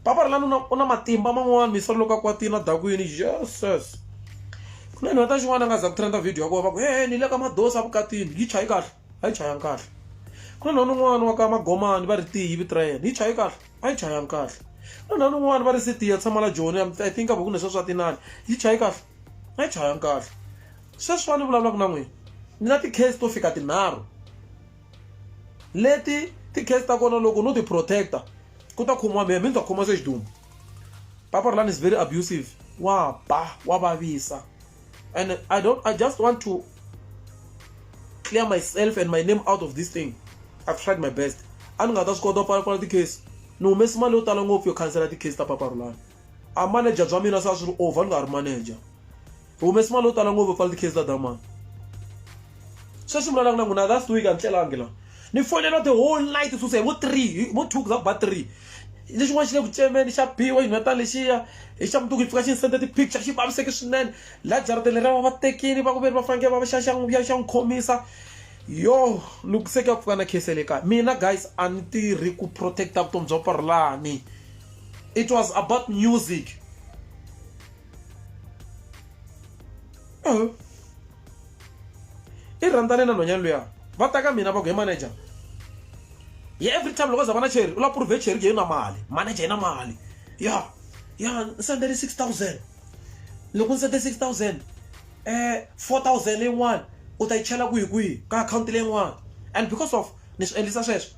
papa ri lani u na u na matimba man'wana mi solo loko a kwatini a dakwini jesus ku na nhweta xin'wana a nga za ku trenda video ya kona va ku he ni le ka madosi a vukatini yi chayi kahle a yi chayanga kahle ku na nhwana un'wana wa ka magomani va ri tiyi vito ra yena yi chayi kahle a yi chayanga kahle ku na nhwana un'wana va ri sitiya tshama la joni i think a va ku ne sweswi a tinani yi chayi kahle a yi chayanga kahle sweswiwani vulavulaka na n'wina ni na ti-case to fika tinharhu leti ti-case ta kona loko no ti protecta ku ta khomiwa mehe mi ni ta khoma se xiduma papa rulani is very abusive wa ba wa vavisa and i don't i just want to clear myself and my name out of this thing i've tried my best a ni nga ta swi kota pfala pfala ti-case ni humesi mali yo tala ngopfu yo khansela ti-case ta papa rulani a manager bya mina se a swi ri over ni nga ri manager hi humesi mali yo tala ngopfu pfala tikhizi ta dama sweswi vulavulaka na n'wina last week a ni tlelangi la ni fonela the whole night suse hi vo three vo two za ba three lexin'wana xi le ku cemeni xa biwa xinhwetana lexiya hi xa mutuku yi pfuka xi ni sende ti-picture xi vaviseke swinene la jarateni leriya va va tekini va ku ve ri va fanekele va va xa xa ya xa n'wi khomisa yo loko se ka pfuka na khese le kaya mina guys a ni tirhi ku protecta vutomi bya parolani it was about music uh-huh. i rhandzane na nhwanyana luya va ta ka mina va ku hi manager ye every time loko za va na cheri u la prove cheri ke yi na mali manager yi na mali ya ya ni sendele six thousand loko ni sende six thousand um four thousand leyin'wana u ta yi chela kwihi kwihi ka akhawunti leyin'wana and because of ni swi endlisa sweswo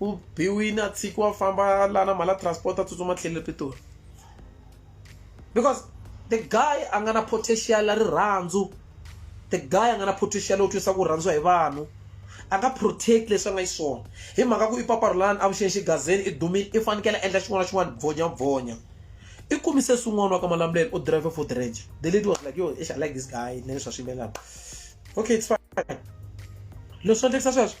u biwile a tshikiwa a famba la na mali ya transport a tsutsuma tlhelo le pitori because the guy a nga na potential ya rirhandzu the guy a nga na potential yo twisa ku rhandziwa hi vanhu a nga protect leswi a nga xiswona hi mhaka ku i paparulani avuxeni xigazeni i dumile i fanekele a endla xin'wana na xin'wana bvonya bvonya i kumise swin'wana wa ka malamulelo u drive for the range the lady was like yo i shall like this guy na leswi a swi yimbelelaka okay it's fine leswi endlekisa sweswo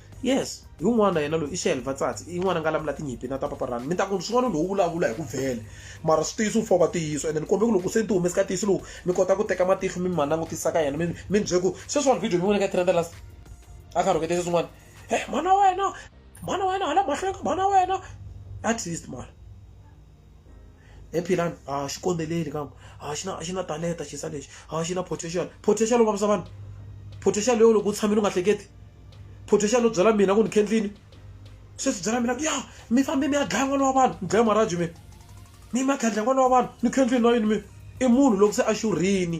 Yes, hi un'wana yena loyi i Shell Vatsatsi i n'wana nga lamula tinyimpi na ta Papa Run mi ta ku swin'wana lowu vulavula hi ku vhele mara switiyiso wu fova tiyiso ene ni kombe ku loko se ni ti humesi ka tiyiso lowu mi kota ku teka matihlo mi ma langutisa ka yena mi mi ni bye ku sweswiwani video mi vone ka trenda last a kha rhuketisa swin'wana he mhana wena mhana wena hala mahlweni ka mhana wena at least mara e philani a ah, xi kondeleli kambe a ah, xi na a xi na talenta xisa lexi a ah, xi na potential potential u vavisa vanhu potential yo loko u tshamile u nga hleketi potential yo byela mina ku ni khendlini sweswi byela mina ya mi fambe mi ya dlaya n'wana wa vanhu ni dlaya maraju mina mi ma khandla n'wana wa vanhu ni khendlini na yini mina i munhu loko se a xurhini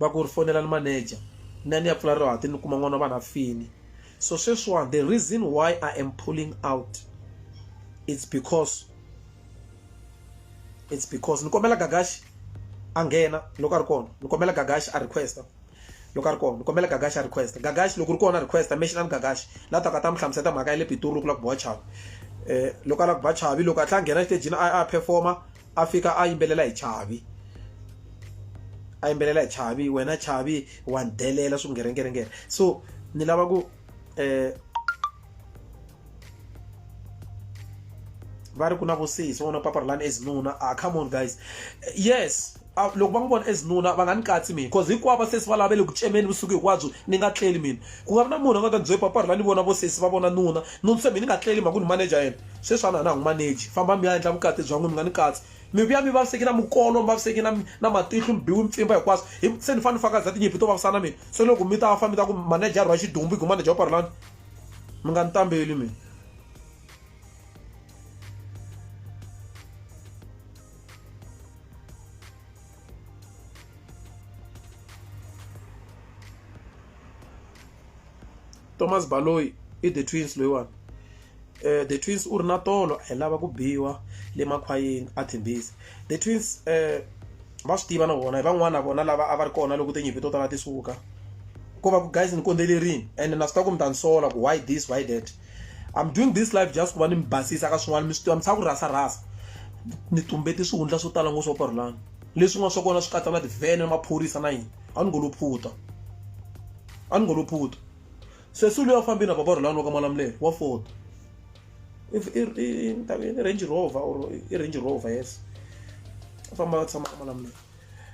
va ku ri fonelani manager ni ya ni ya pfula rihati ni kuma n'wana wa vanhu a fini so sweswiwani the reason why i am pulling out it's because it's because ni kombela gagashi a nghena loko a ri kona ni kombela gagashi a requesta loko a ri kona ni kombela gagashi a requesta gagashi loko ri kona requesta mexi ni gagashi la taka ta mi hlamuseta mhaka ya le pitori loko la ku biwa chavi um loko a la ku ba chavi loko a tlha a nghena exitejini a a performa a fika a yimbelela hi chavi a yimbelela hi chavi wena chavi wa delela swi ngerengerengere so ni lava ku eh va ri ku na vusisi va vona papara lani ezinuna a ah, come on guys yes ah, loko va n'wi vona ezinuna va nga ni katsi mina bcause hinkwavo vasesi va lavele ku cemeni vusiku hinkwabyo ni nga tleli mina ku nga vi na munhu a nga ta ni bye papara la ni vona vosesi va vona nuna nuni se mina ni nga tleli mhaka ku ni manager yena Sweswi a na ha n'wi maneji. Fambani mi ya endla vukati bya n'wina, mi nga ni katsi. Mi vuya mi vavisekile, mi kolo, mi vavisekile na matihlo, mi biwe mpfimba, hinkwaswo. Hi vu, se ni fanele ni faka za tinyimpi to vavisa na mina? Se loko mi ta fa, mi ta ku, Maneja a rhwala xidumbu, i ku, Maneja u parhelani? Mi nga ni tambeli mina. Thomas Baloyi i The Twins loyiwani. The Twins u ri na tolo a hi lava ku biwa le makhwayeni a Tembisa. The Twins va swi tiva na vona hi van'wana na vona lava a va ri kona loko tinyimpi to tala ti suka. Ko va ku guys ni kondzelerile ene na swi tiva ku mi ta ni sola ku why this why that. I'm doing this live just ku va ni mi basisa ka swin'wana mi swi tiva mi tshava ku rhasa rhasa. Ni tumbete swihundla swo tala ngopfu swa Pharlane. Leswin'wana swa kona swi katsa na tivhene, maphorisa na yini. A ni ngo lo phuta. A ni ngo lo phutha. Sesi luya u fambe na bava Rhulani wa ka Malamulele wa Ford. I ni ta ku i Range Rover or i Range Rover yes. Va famba va tshama ka Malamulele.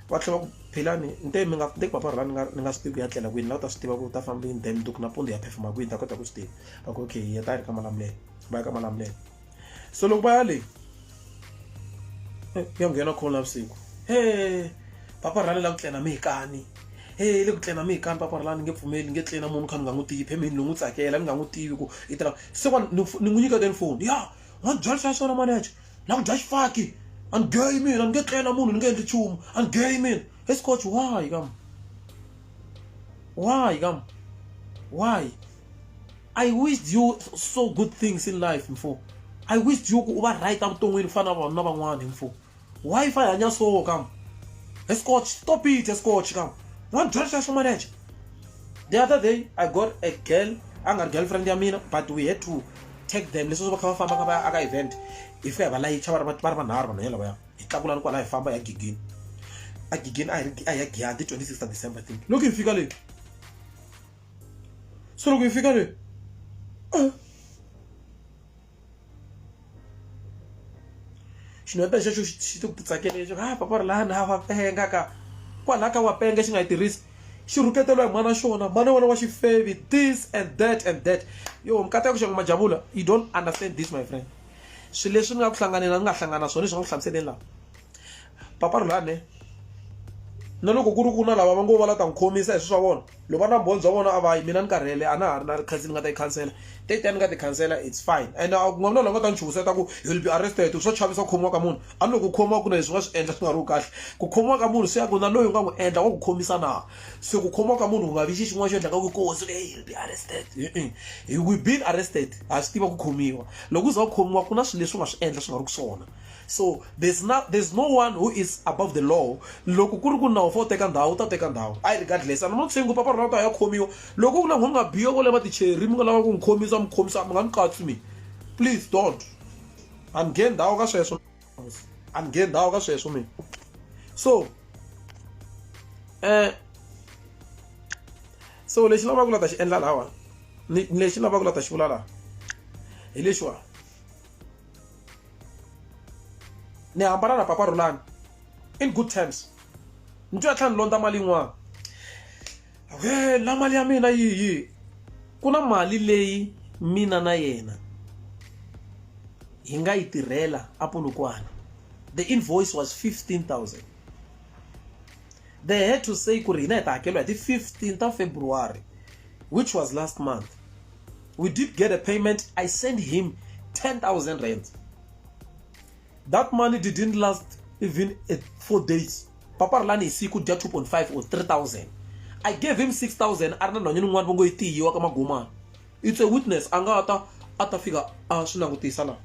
Va tlhela va ku Philani ni te mi nga ni te bava Rhulani ni nga ni nga swi tivi ku ya tlela kwini la u ta swi tiva ku u ta famba yini then mundzuku nampundzu hi ya phefoma kwini ni ta kota ku swi tiva. Va ku okay hi ta hi ri ka Malamulele va ya ka Malamulele. so loko va ya le ya nghena khona navusiku he papa rhale la ku tlena mi hi kani he le ku tlena mi hi kani papa rhale ni nge pfumeli ni nge tlena munhu kha ni nga n'wi tivi phemini ni n'wi tsakela ni nga n'wi tivi ku i tirha se wa ni n'wi nyika then foni ya wa ni byela swa swona manager na ku dya xifaki a ni geyi mina ni nge tlena munhu ni nge endli nchumu a ni geyi mina escotch why kam why kam why I wished you so good things in life mfo I wished you ku u va right evuton'wini ku fana na vanhu na van'wana mfo why fa hi hanya so kam he scotch stop it he scotch kam wa byela swa swo manager the other day I got a girl a nga ri girlfriend ya mina but we had to take them leswi va kha va famba ka va aka event hi fika hi va layicha va ri va ri vanharhu vanhu yena lavaya hi tlakula ni kwala hi famba hi ya gigini a gigini a hi ri a hi ya giyani ti 26 ta December I think loko hi fika le Solo que fíjate. Ah. xinhu ya pena xexo xi titsakele xo ha papa ri laha na wa penga ka kwalaha ka wa penga xi nga yi tirhisi xi rhuketeliwa hi mana xona mana wona wa xifevi this and that and that yo nkata ya ku xangu majavula you don't understand this my friend swilo leswi ni nga ku hlanganela ni nga hlangana swona leswi nga ku hlamuseleni laha papa ri lane na loko ku ri ku na lava va ngo va la ta n'wi khomisa hi swi swa vona loko va na vumbhoni bya vona a va yi mina ni karhele a na ha ri na rikhansi ni nga ta yi khansela te tani ni nga ti khansela it's fine and a ku nga vi na la nga ta ni chuhisa ta ku you will be arrested swo chavisa ku khomiwa ka munhu a ni loko ku khomiwa ku na leswi nga swi endla swi nga ri ku kahle ku khomiwa ka munhu se ya ku na loyi u nga n'wi endla wa ku khomisa na se ku khomiwa ka munhu ku nga vi xi xin'wana xo endla ka ku kohosi leyi you will be arrested we been arrested ha swi tiva ku khomiwa loko u za ku khomiwa ku na swilo leswi u nga swi endla swi nga ri ku swona so there's no, there's no one who is above the law loko ku ri ku nawu fa u teka ndhawu u ta teka ndhawu i regardless and i'm not saying ku papa rona ta ya khomiwa loko ku na n'wana nga biyo kole va ticheri mi nga lava ku n'wi khomisa mi khomisa mi nga ni katsi mi please don't a ni nge ndhawu ka sweswo a ni nge ndhawu ka sweswo mina so eh so lexi lavaka ku la ta xi endla lawa lexi lavaka ku la ta xi vula laha hi lexiwa ni hambana na papa rulani in good terms ni twa tlhela ni londza mali yin'wana we la mali ya mina yihi ku na mali leyi mina na yena hi nga yi tirhela apolokwana the invoice was 15000 They had to say ku ri hina hi ta hakeriwa hi ti 15 ta February which was last month. We did get a payment. I sent him 10,000 rand. That money didn't last even at four days. Papa Rulani is equal to 2.5 or 3,000. I gave him 6,000. Arna no nyini ngwan bongo iti yiwa kama guma. It's a witness. Anga ata ata fika a ah, swinangutisa la.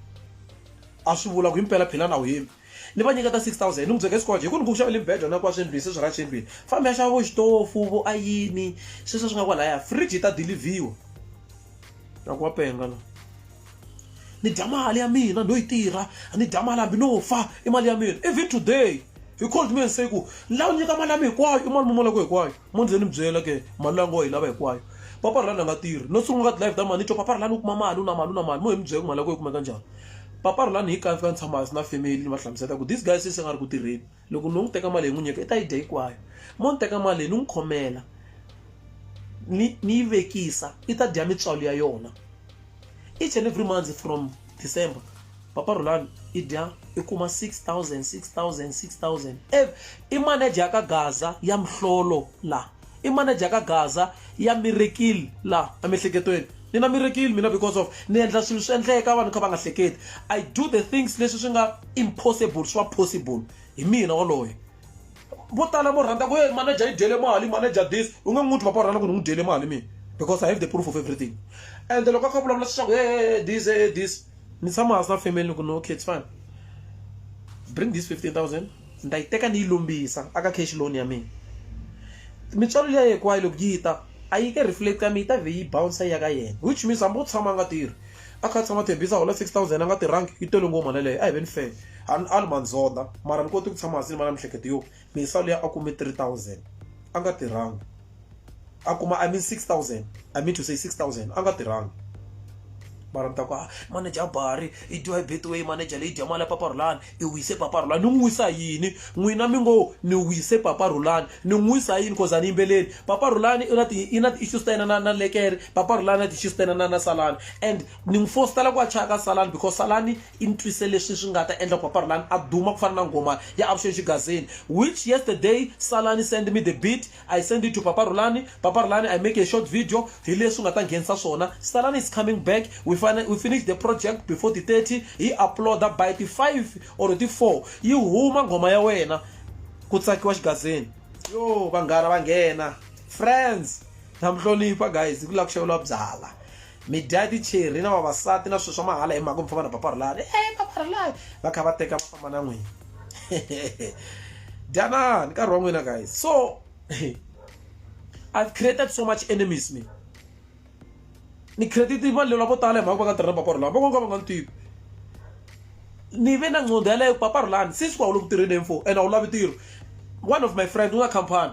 A swi vula ku himpela philana u yimi. ni va nyiketa 6000 ni n'wi byeka esikoje hi ku ni ku xavele mbhejo na kwa swimbirhi se swi ra swimbirhi fambi ya xava vo xitofu vo ayini sweswo swi nga kwalaya fridge yi ta dilivhiwa na ku wa penga la ni dya mali ya mina no yi tirha ni dya mali hambi no fa i mali ya mina even today he called me and say ku ni lava nyika mali ya mina hinkwayo i mali mumulako hinkwayo mo ndzeni mi byela ke mali leyi ngo yi lava hinkwayo papa rhulani a nga tirhi no sungula ka live ta mali ni twa papa rhulani u kuma mali u na mali u na mali mo hi mi byela ku mali ya kona yi kumeka njhani papa rhulani hi kaye fika ni tshama hansi na family ni va hlamusela ku this guy since a nga ri ku tirheni loko ni n'wi teka mali hi n'wi nyika i ta yi dya hinkwayo mo ni teka mali leyi ni n'wi khomela ni ni yi vekisa i ta dya mitswalo ya yona each and every month from december papa rolan i dya i kuma 6000 6000 6000 ev i manager ya ka gaza ya mihlolo la i manager ya ka gaza ya mirekile la emihleketweni ni na mirekile mina because of ni endla swilo swi endleka vanhu kha va nga hleketi i do the things leswi swi nga impossible swi va possible hi mina waloye vo tala vo rhandza ku e manager yi dyele mali manager this u nge n'wi twi papa u rhandza ku ni n'wi dyele mali mina because i have the proof of everything and loko a kha vulavula leswaku e this e this ni tshama hansi na family ni ku no okay it's fine bring this fifteen thousand ni ta yi teka ni yi lombisa aka cash loan ya mina mitswalo leyi hinkwayo loko yi ta a yi ke reflect ka mina yi ta vhe yi bouncer ya ka yena which means hambi u tshama a nga tirhi a kha a tshama tshembisa hola six thousand a nga tirhangi yi tele ngoma na leyo a hi ve ni fele a ni ali mandzodha mara ni koti ku tshama hansi ni va na mihleketo yo misa luya a kume 3000 a nga tirhangi a kuma i mean 6000 i mean to say 6000 a nga tirhangi mara mi ta ku ah, manager bari i dyiwa hi betway manager leyi dya mali ya papa rulani i wise papa rulani ni n'wi wisa yini n'wina mi ngo ni wise papa rulani ni n'wi wisa yini cause a ni yimbeleli papa rulani i na ti i na ti-issues ta yena na na lekere papa rulani na ti-issues ta yena na na salani and ni n'wi fostela ku a chaya ka salani because salani I ntwise leswi swi nga ta endla ku Papa Rhulani a duma ku fana na nghoma ya Avuxeni Xigazeni. Which yesterday Salani send me the beat, I send it to Papa Rhulani, Papa Rhulani I make a short video hi leswi u nga ta nghenisa swona. Salani is coming back, we fina, we finish the project before ti 30, hi yi upload-a by ti 5 or ti 4 yi huma nghoma ya wena ku tsakiwa Xigazeni. Yoh vanghana va nghena. Friends, na mi hlonipha guys hi ku lava ku xaveriwa byala. mi dya ticheri na vavasati na swilo swa mahala hi mhaka mi famba na paparilani e eh, paparilani va kha va teka va famba na n'wina dyanani nkarhi wa n'wina guys so i've created so much enemies me ni created vanhu lava vo tala hi mhaka va nga tirhi na paparilani van'wana ka va nga ni tivi ni ve na nqondo yaleyo paparilani since wa wu le ku tirheni hi mfo and a wu lavi ntirho one of my friend u na company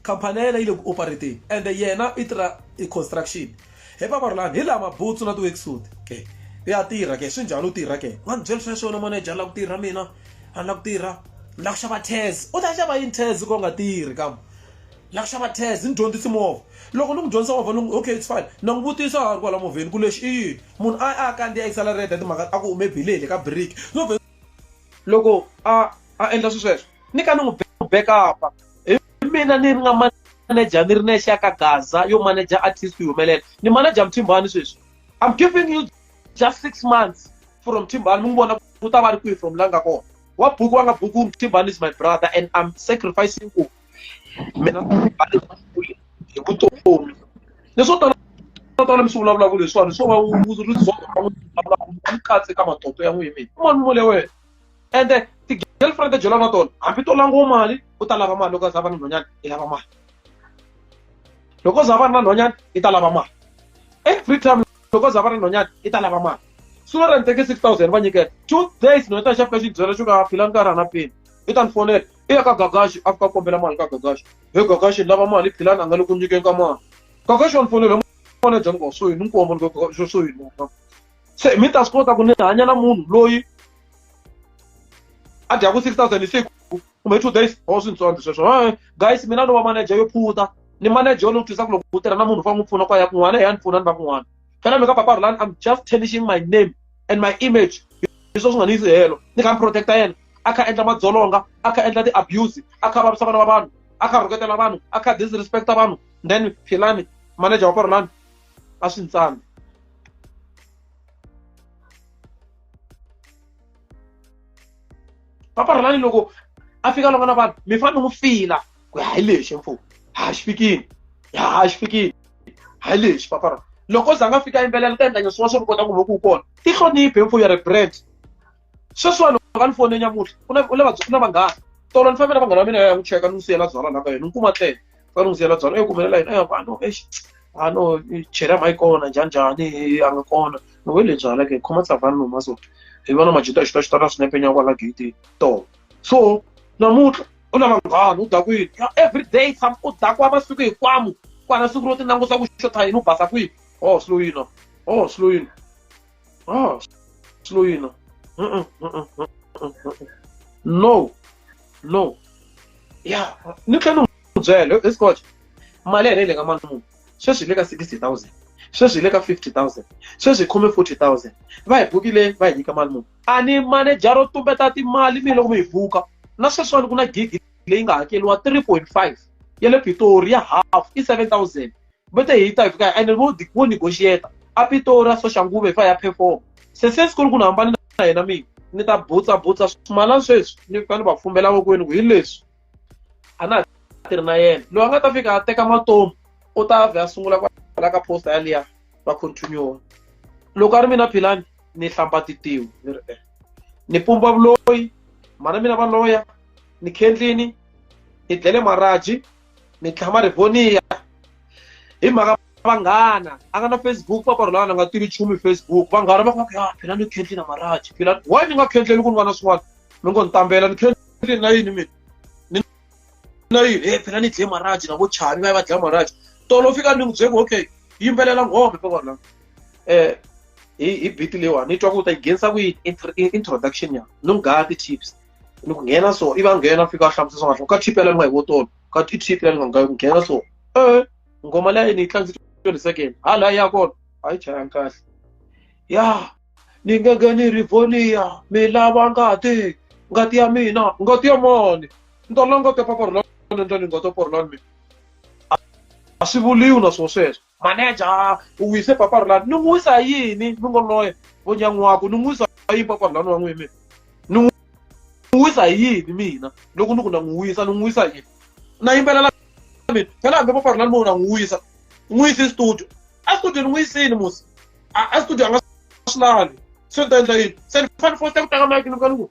khampani ya yena yi le ku operateni ende yena i tirha i construction he paparulani hi lama butsu na ti-worksuit ke ya tirha ke swi njhani u tirha ke wa ni byela swa swona manager ni lava ku tirha mina a ni lava ku tirha ni lava ku xava tez u ta xava yini tez ko nga tirhi kam ni lava ku xava tez ni dyondzisi movha loko ni n'wi dyondzisa movha ni okay it's fine na n'wi vutisa a ri kwala movheni ku lexi i yini munhu a a kandziya i salary ya timhaka a ku hume bilele ka biriki no loko a a endla swi sweswo ni ka ni n'wi backup-a hi mina ni ri nga manager ni ri nexe ya ka gaza yo manager artist yi humelela ni manager muthimbani sweswi i'm giving you just six months from thimbani mi n'wi vona ku ta va ri kwihi from la nga kona wa buku wa nga buku thimbani is my brother and i'm sacrificing ku hi vutomi leswo tala tala mi swi vulavulaka leswiwani swo va rizon'u katse ka matoto ya n'wini mina un'wana mole wena ende ti-girlfriend ta byela na tona hambi to langiwa mali u ta lava mali loko za va na nhwanyana i lava mali loko za va ri na nhwanyana i ta lava mali every time loko za va ri na nhwanyana i ta lava mali sooner than thirty six thousand va nyikela two days no ta xafika xi byela xo ka phila nkarhi a na peni i ta ni fonela i ya ka gagaxi a fika kombela mali ka gagaxi he gagaxi lava mali philani a nga le ku nyikeni ka mali gagaxi wa ni fonela mali ya dyanga so yini nkombo ni gagaxi so yini se mi ta swi kota ku ni hanya na munhu loyi a dyaku six thousand hi siku kumbe two days ho swi ntsondzi sweswo e guys mina ni wa manager yo phuta ni manager yo ni twisa ku loko u tirha na munhu fa n'wi pfuna kwa ya kun'wana he ya ni pfuna ni va kun'wana phela mi ka papa rulani i'm just tarnishing my name and my image hi swo swi nga ni yisi helo ni kha ni protecta yena a kha endla madzolonga a kha endla ti-abuse a kha vavisa vana va vanhu a kha rhuketela vanhu a kha disrespecta vanhu then philani manager wa korolani a swi ntsana paparhelani loko a fika loko na vanhu mi fanele n'wi fila ku hayi lexi mfumo ha xi fikini ha xi fikini hayi lexi paparhelani loko za nga fika yimbelela ta endla nyeswiwa swo kota ku va ku kona tihloniphi mfumo ya rebrand sweswiwa loko va ni fone nyamuhla ku na ku na ku na vanghana tolo ni fambela vanghana va mina ya ya n'wi cheka ni n'wi siyela byalwa la ka yena ni kuma tlele va ni n'wi siyela byalwa eyi kumelela yena eya vano exi a no chela ma yi kona njhani njhani a nga kona ni we le byalwa ke khoma tsavani no maso hi vona majuta ya xitaxita na swinepe nya kwala gate tolo so namuntlha u na vanghana u dakwini every day tshama u dakwa masiku hinkwamu kwana siku ro ti langusa ku xotha yini u basa kwihi oh sloyina oh sloyina Oh, slow you now. Uh-uh, uh-uh, uh-uh, uh-uh. No, no. Yeah, ni tlhela n'wi byela hi scotch mali ya le ka mali munhu sweswi hi le ka sixty thousand sweswi hi le ka fifty thousand sweswi hi khome forty thousand va hi bukile va hi nyika mali munhu a ni maneja ro tumbeta timali mi loko mi hi buka na sweswiwani ku na gigi leyi nga hakeriwa three point five ya le pitori ya half i seven thousand vete hi ta hi fika ene vo vo negotiate a pitora so xanguve hi fa ya perform se se siku ri ku ni hambane na yena mina ni ta butsa butsa swimalani sweswi ni fika ni va fumbela vokwenu ku hi leswi a na ha tirhi na yena loyi a nga ta fika a teka matomu u ta vhe a sungula kwala ka posta yaliya va continue loko a ri mina philani ni hlamba titiwi ni ri eh ni pumba vuloyi mhana mina va loya ni khendlini ni dlele maraji mi tlhama ri voniya hi mhaka vanghana a nga na facebook papa rholana a nga tivi nchumu hi facebook vanghana va ku va ku ya phela ni khendli na maraji phela why ni nga khendleli ku ni va na swin'wana mi ngo ni tambela ni khendleli na yini mina ni na yini e phela ni dle maraji na vo chavi va ya va dlaya maraji tolo fika ni n'wi byeki okay yimbelela ngome papa rholana um hi hi biti leyiwani ni twa ku u ta yi nghenisa kuyini introduction ya ni n'wi gaya ti-tips ni ku nghena so i va nghena fika a hlamusela swa kahle ka tip ya le nga hi votolo ka i tip ya le nga ku nghena so e ngoma leyi ni yi tlangise twenty second ha laha ya kona a yi chayanga kahle ya ni nge nge ni ri voniya mi lava ngati ngati ya mina ngati ya mani ni ta langa tepaporolani ni ta ni nga tepaporolani mina a swi vuriwi na swona sweswo maneja ah, u wise papa rulani ni n'wi wisa yini mi ngo loye vo nyan'waku ni n'wi wisa yini papa rulani wa n'wimi ni n'wi wisa yini mina loko ni ku na n'wi wisa ni n'wi wisa yini na yimbelela mina phela hambi papa rulani mo na n'wi wisa n'wi yisi studio a studio ni n'wi yisini musi a studio a nga swi lavi se ni ta endla yini se ni fanele fosita ku tlanga mike ni ka ni ku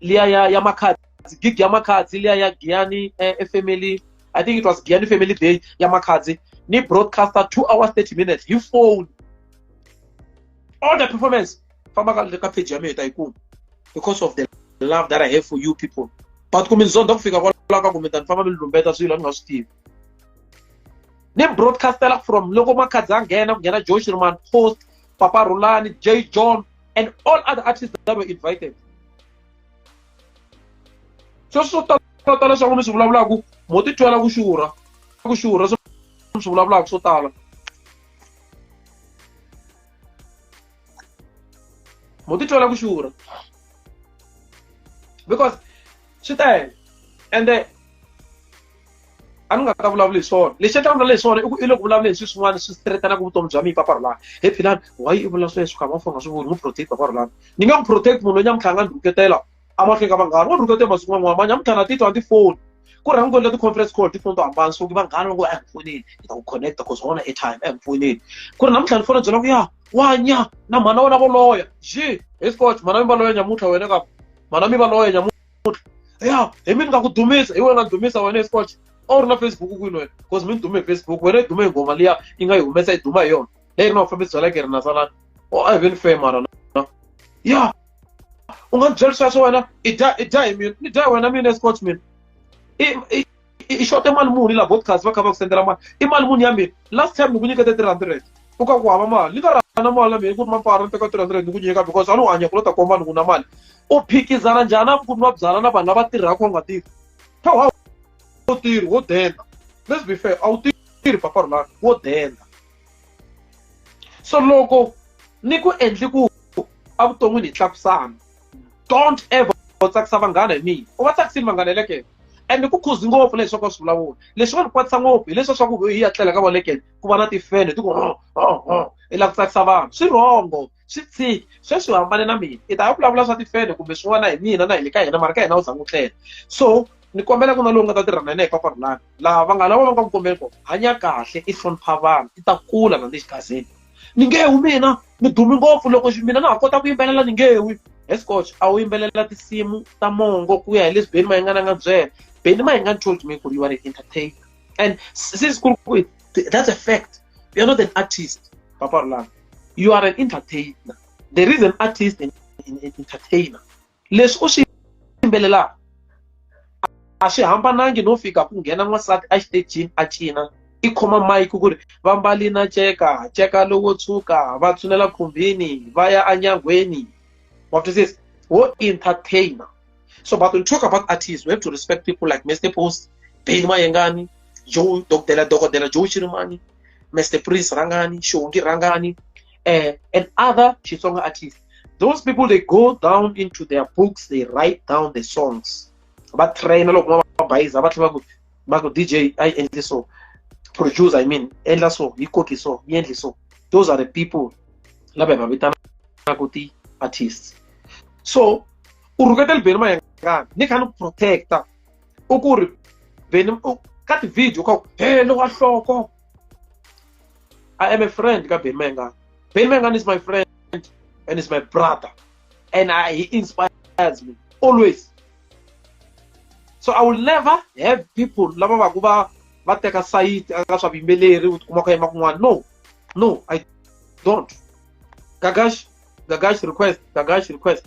liya ya, ya makhadzi gig ya makhadzi liya ya giyani eh, eh, family i think it was giyani family day ya makhadzi ni broadcaster two hours 30 minutes hi phone all the performance famba ka le ka page ya mina ta yi kuma because of the love that i have for you people but ku mi ndzondza ku fika kwalaho ka ku mi ta ni famba mi ni lumbeta swilo a ni nga swi tivi ni broadcastela from loko makhadzi a nghena ku nghena josh roman post Papa Rulani, Jay John, and all other artists that were invited. So so tala swa mi swi vulavulaka mo ti twela ku xurha ku xurha swi vulavulaka swo tala mo ti twela ku xurha because swi tele ende a ni nga ta vulavula hi swona lexi a ta vulavula hi swona i ku i loko vulavula hi swilo swin'wana swi siteretanaka vutomi bya mina papa rulani he philani why i vula sweswo kha mafa nga swi voni n'wi protect papa rulani ni nge n'wi protect munhu loyi nyamutlha a nga ni rhuketela amahlweni ka vanghana wa ni rhuketela masiku man'wana nyamutlha na titwa a ti foni ku rhangi kona ti-conference call tifoni to hambana so vanghana va ngo a hi pfuneni hi ta ku connecta cause wona airtime a hi pfuneni ku ri namuntlha ni fona byela ku ya wanya na mhana wena voloya ji hi scotch mhana mi valoya nyamutlha wena ka mhana mi valoya nyamutlha ya hi mi ni nga ku dumisa hi wena dumisa wena esport a wu ri na facebook kwini wena because mi ni dume hi facebook wena yi dume hi ngoma liya yi nga yi humesa yi duma hi yona leyi ri na vufambisi bya leke ri na salana o a hi ve ni fe mara na ya u nga ni byeli sweswo wena i dya i dya hi mina ni dya hi wena mina esport mina i i xote mali muni la broadcast va kha va ku sendela mali i mali muni ya mina last time ni ku nyikete three hundred u ka ku hava mali ni ka rana mali ya mina ku ri mampara ni teka three hundred ni ku nyika because a ni hanya ku lo ta komba ni ku na mali u phikizana njhani a ku ni va byala na vanhu lava tirhaka u nga tirhi pha wa wo tirhi wo denda let's be fair a wu tirhi papa rulani wo denda so loko ni ku endli ku evuton'wini hi tlakusana don't ever tsakisa vanghana hi mina u va tsakisini vanghana hi le kena ende ku khuzi ngopfu leswi swa swi vulavula leswi va ri kwatisa ngopfu hi leswi swa ku hi ya tlela ka valekele ku va na tifene ti ku ho ho ho i lava ku tsakisa vanhu swi rhongo swi tshiki sweswi u hambane na mina i ta ya vulavula swa tifene kumbe swin'wana hi mina na hi le ka yena mara ka yena u tshama u tlela so ni kombela ku na lowu nga ta tirha na yena hi paparulani laha va nga lava va nga ku kombeli kona hanya kahle i hlonipha vanhu i ta kula na le xigazini ni nge wi mina ni dumi ngopfu loko mina na ha kota ku yimbelela ni nge wi escotch a wu yimbelela tinsimu ta mongo ku ya hi leswi beni mayingana nga byela beni mayingani told me ku ri you are an entertainer and since ku ri that's a fact you are not an artist papa rulanga you are an entertainer there is an artist and an entertainer leswi u swi yimbelelaka a swi hambanangi no fika ku nghena n'wansati a xitejini a cina i khoma mayiki ku ri va mbali na ceka ceka lowo tshuka va tshunela khumbini va ya anyangweni wa twisisa wo entertainer so but when talk about artists we have to respect people like mr post ben mayengani joe dokotela dokotela joe chirimani mr prince rangani shongi rangani uh, and other Xitsonga artists. Those people, they go down into their books, they write down the songs. But train loko bayiza va tlhela va ku DJ I endle so produce I mean endla so yi koki so yi endle so those are the people lava hi va vitanaka ti artists so u rhuketela beni mayengani ni kha ni protecta u ku ri beni ka ti-video ka ku he lowa nhloko I am a friend ka Benny Mayengani. Benny Mayengani is my friend and is my brother. And I, he inspires me always. So I will never have people lava va ku va va teka sayiti aka swa vuyimbeleri u tikuma ku yima kun'wana no no i don't gagash gagash request gagash request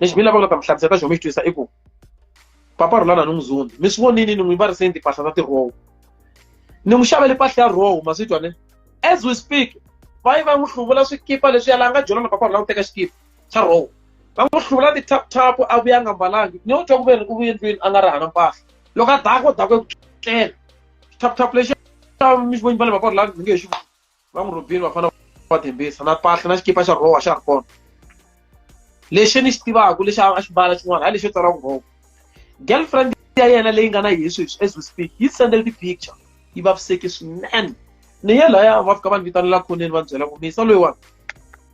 lexi mi lavaka ta mi hlamusela ta xona mi xi twisisa i ku papa rhulana ni muzundi mi swi vonini ni n'wi variseni timpahla ta tirowo ni n'wi xavele mpahla ya rowo ma swi twa ne as we speak va yi va n'wi hluvula swikipa leswi yala a nga dyona na papa rhulana ku teka xikipa xa rowo va n'wi hluvula ti-taptap a vuya a nga mbalangi ni yo twa ku ve ri u vuye ndlwini a nga ri hana mpahla loko a dako dako eku tlela tap tap lexi mi xi voni va le vaporo la ni nge xi va n'wi rhobini vafana va tembisa na pahla na xikipa xa rowa xa ri kona lexi ni xi tivaka lexi a xi mbala xin'wana hayi lexi yo tsariwa ku rowa girlfriend ya yena leyi nga na yehe sweswi as we speak yi sendele ti-picture yi vaviseke swinene ni ye laya va fika va ni vitanela khoneni va ni byela ku misa loyiwani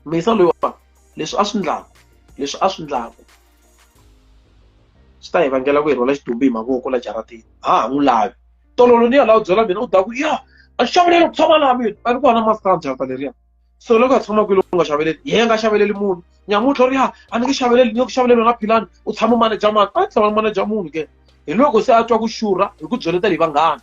misa loyiwani leswi a swi ndlaku leswi a swi ndlaku swi ta hi vangela ku hi rhwala xidumbu hi mavoko la jaratini ha ha n'wi lavi tololo ni ya laha u byela mina u ta ku ya a xaveleli ku tshama laha mina a ni kona maskana jarata leriya so loko a tshama kwini u nga xaveleli yena nga xaveleli munhu nyamutlha u ri ya a ni nge xaveleli ni ku xaveleli wena philani u tshama maneja mani a tshama maneja munhu ke hi loko se a twa ku xurha hi ku byeleta hi vanghana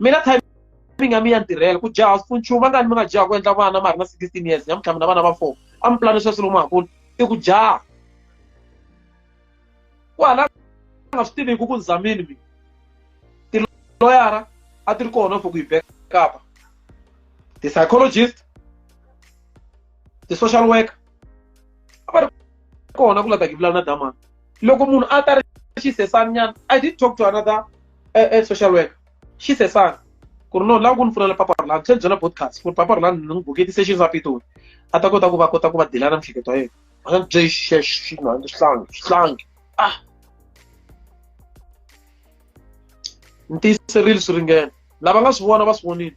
mina timing ya mi ya ntirhela ku jaha swi nchumu angani mi nga jaha ku endla vana ma ri na sixteen years nyamutlha mina vana va four a mi pulani sweswi lomu hakulu i ku jaha ku hala nga swi tiviku ku nzamini mina tiloyara a ti ri kona for ku yi bekapa ti-psychologist ti-social worker va ri kona ku lata ki vulavula na damani loko munhu a ta ri xisesani nyana i did talk to another uh, uh, social worker xisesani ku ri no lava ku ni pfuna la papa rolani tlhela byela podcast ku ri papa rolani ni n'wi buketi se xi sapitoni a ta kota ku va kota ku va dilana miehleketo ya yena a nga bye xinhanga xihlangi xihlangi ah ni tiyiserile swi ringene lava nga swi vona va swi vonile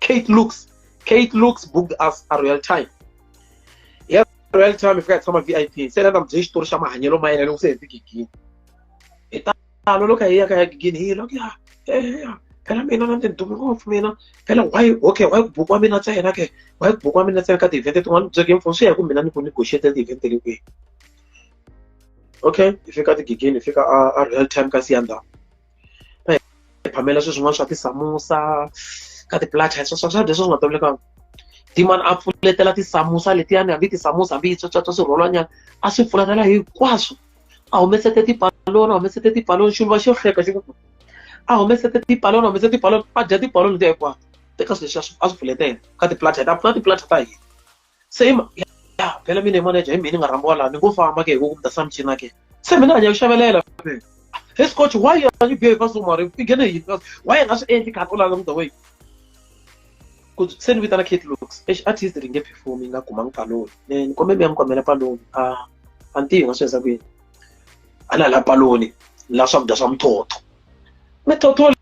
Kate Looks. Kate Looks booked us a Royal Time. Yeah, Royal Time if fika hi a VIP. Se na ndam byi xitori xa mahanyelo ma yena loko se hi fike gini. Hi talo loko hi ya ka ya gini hi loko ya ya phela mina na ndindumi ngopfu mina phela why okay why book wa mina ntsena ke why book wa mina ntsena ka ti-event tin'wana byo game phone swi ya ku mina ni ku negotiate ti-event le kwihi okay hi fika tigigini hi fika a a real time ka siyandhawu va hi phamela swilo swin'wana swa tisamusa ka ti-blood type swakudya swa swi nga tolovelekanga dimani a pfuletela tisamusa letiyani hambi tisamusa hambi yi tswatswatswa swi rholwanyana a swi pfuletela hinkwaswo a humesete tipaloni a humesete tipaloni xuluva xo hleka xi a humesete tipaloni a humesete tipaloni va dya tipaloni letiya hinkwato teka swilo leswi a swi pfuletela ka ti-blood type a pfuna ti-blood type ta hina se i ya phela mina hi manager hi mina ni nga rhambiwa laha ni ngo famba ke hi ku ku mi ta samchina ke se mina a ni ya ku xavelela he scotch why are you behave so mari i nghene hi why i nga swi endli khani u lala the way ku se ni vitana kate looks exi artist ri nge perform yi nga kumanga paloni ne ni kombe mi ya mi kombela paloni a a ni tivi nga swi endza ku yini a na la paloni la swakudya swa muthotho muthotho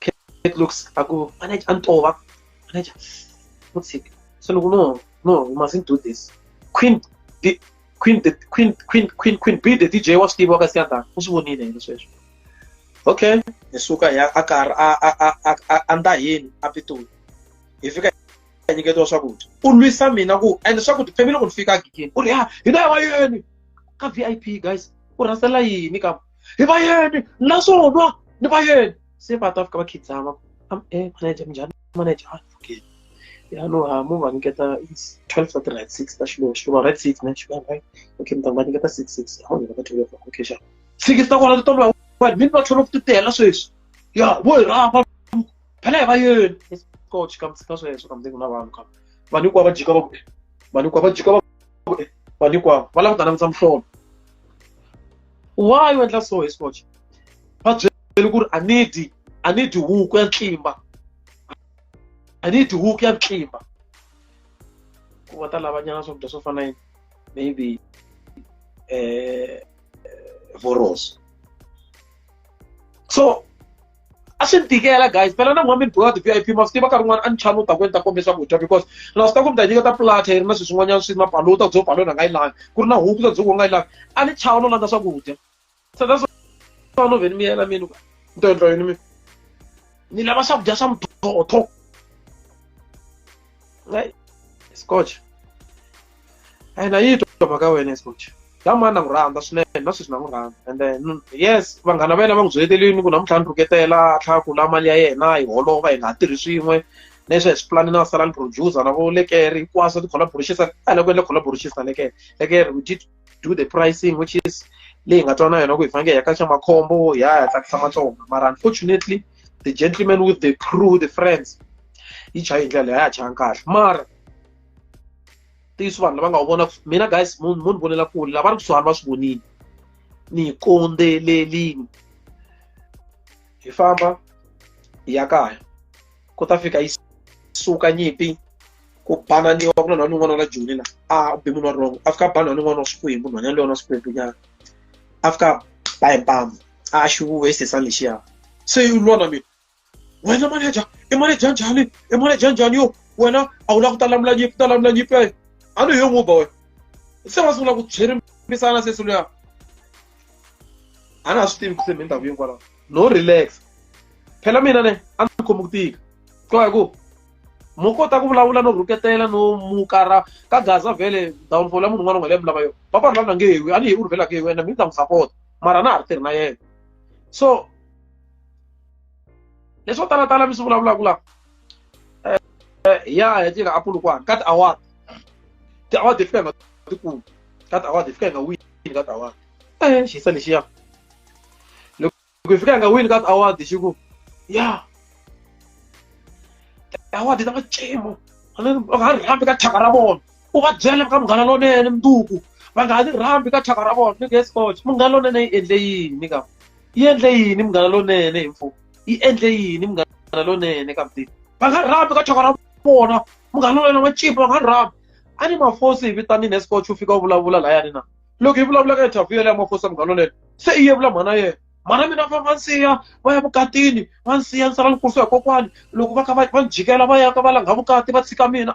Kate looks aku manager antowa manager mutsik so look no no we mustn't do this queen the queen the queen queen queen queen be the dj wa swi tiva ka siyanda u swi vonile yini sweswo okay hi suka hi a karhi a a a a a nda hini a pitoli hi fika hi nyiketiwa swakudya u lwisa mina ku and swakudya family loko ni fika gigini u ri ha hina ya wayeni ka vip guys u rhasela yini ka hi va yeni naswona ni va yeni se va ta fika va khidzama am e eh, manager minjhani manager a okay ya no ha mu va nyiketa 12 of the right 6 ta xilo xilo right 6 ne xilo right okay mi ta va nyiketa 6 6 ha nyiketa 12 okay xa six ta kona to va wa mi va thola ku titela sweswi ya vo hi rapa phela hi va yeni coach ka mtsika sweswo ka mdzingo na vanhu ka vanhu hinkwavo va jika va ku vanhu hinkwavo va jika va ku vanhu hinkwavo va langutana vutsa muhlolo why u endla so hi scotch va byele ku ri a need a need huku ya ntlimba a need huku ya ntlimba ku va ta lavanyana swakudya swo fana yini maybe eh, eh voroso so a swi ni tikela guys phela na n'wami ni boka ti-vip ma swi tiva nkarhi wun'wana a ni chani u ta ku ni ta kombe swakudya because na swi ta ku mi ta nyiketa plata yi ri na swilo swin'wanyana swi mapalo u ta ku byo palo na nga yi lavi ku ri na huku ta byo ku nga yi lavi a ni chava no landza swakudya so that's why no vheni mi yela mini ni to endla yini mi ni lava swakudya swa muthootho scotch a yi na yi twa mhaka ya wena escoach la mani na n'wi rhandza swinene na sweswi na n'wi rhandza and then mm, yes vanghana va yena va n'wi byetelini ku namuntlha ni rhuketela a tlhela ku la mali ya yena yi holova hi nga ha tirhi swin'we leswi hi swi pulani na sala ni producer na vo lekeri hinkwaswo ti collaborations a la ku endla collaborations na lekeri lekeri we did do the pricing which is leyi nga twana yona ku hi fanekele hi ka xa makhombo hi ya hi tsakisa matsonga mara unfortunately the gentleman with the crew the friends yi chaye hi ndlela leyi a ya chayanga kahle mara ntiyiso vanhu lava nga wu vona mina guys mo ni vonela kule lava ri kusuhani va swi vonile ni yi kondzelelini hi famba hi ya kaya ku ta fika yi suka nyimpi ku bananiwa ku na nhwani un'wana wa la joni la a be munhu wa wrong a fika ba nhwani un'wana wa swikwembu nhwanyana leyi wa na swikwembunyana a fika ba hi mpamu a xi vuwe xisesani lexiya se yi lwa na mina wena manager i manager njhani i manager njhani yo wena a wu la ku ta lamula nyipi ta lamula nyipi ya a ni yo n'wi ba wena se wa sungula ku tswirimisana sesi luya a na ha swi tivi ku se mi ndhawu hinkwalaho no relax phela mina ne a ni khomi ku tika twa hi ku mo kota ku vulavula no rhuketela no mukara ka gaza vhele downfall ya munhu un'wana un'wana leyi mi lava yona papa ri lava na nge hewi a ni hewi ri vhela nge hewi yena mi ni ta n'wi sapota mara a na ha ri tirhi na yena so leswo tala tala mi swi vulavulaka la eh, eh, ya ya tirha apulukwana ka tiawara tiawara ti fika nga tikulu ka tiawara ti fika nga wini ka tiawara eh xisa lexiya loko hi fika nga wini ka tiawara xi ku ya tiawara ti ta va cimo a nga ri hambi ka thyaka ra vona u va byela ka munghana lonene mundzuku va nga ha ni rhambi ka thyaka ra vona ni nge scotch munghana lonene yi endle yini ka yi endle yini munghana lonene hi mfumo yi endle yini munghana lonene ka mutini va nga rhambi ka chaka ra vona munghana lonene wa chipa va nga rhambi a ni mafosi hi vitanini escotch u fika u vulavula layani na loko hi vulavula ka interview yaleya mafosi ya munghana lonene se i yevula mhana yena mhana mina va va nsiya va ya vukatini va nsiya ni sala ni kurisiwa hi kokwani loko va kha va va ni jikela va ya ka va langha vukati va tshika mina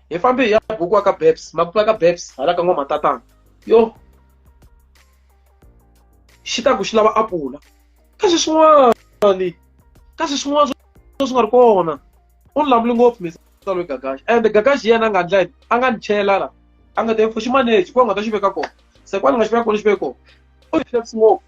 hi fambe hi ya bukiwa ka babs makuva ka babs hala ka n'wamatatana yo xi ta ku xi lava apula kasi swin'wana kasi swin'wana swo swi nga ri kona u ni lamuli ngopfu misalo gagaxi and gagaxi yena a nga ndla a nga ni chela la a nga ta fo xi manage ku a nga ta xi veka kona se kwani nga xi veka kona xi veka kona u xi ngopfu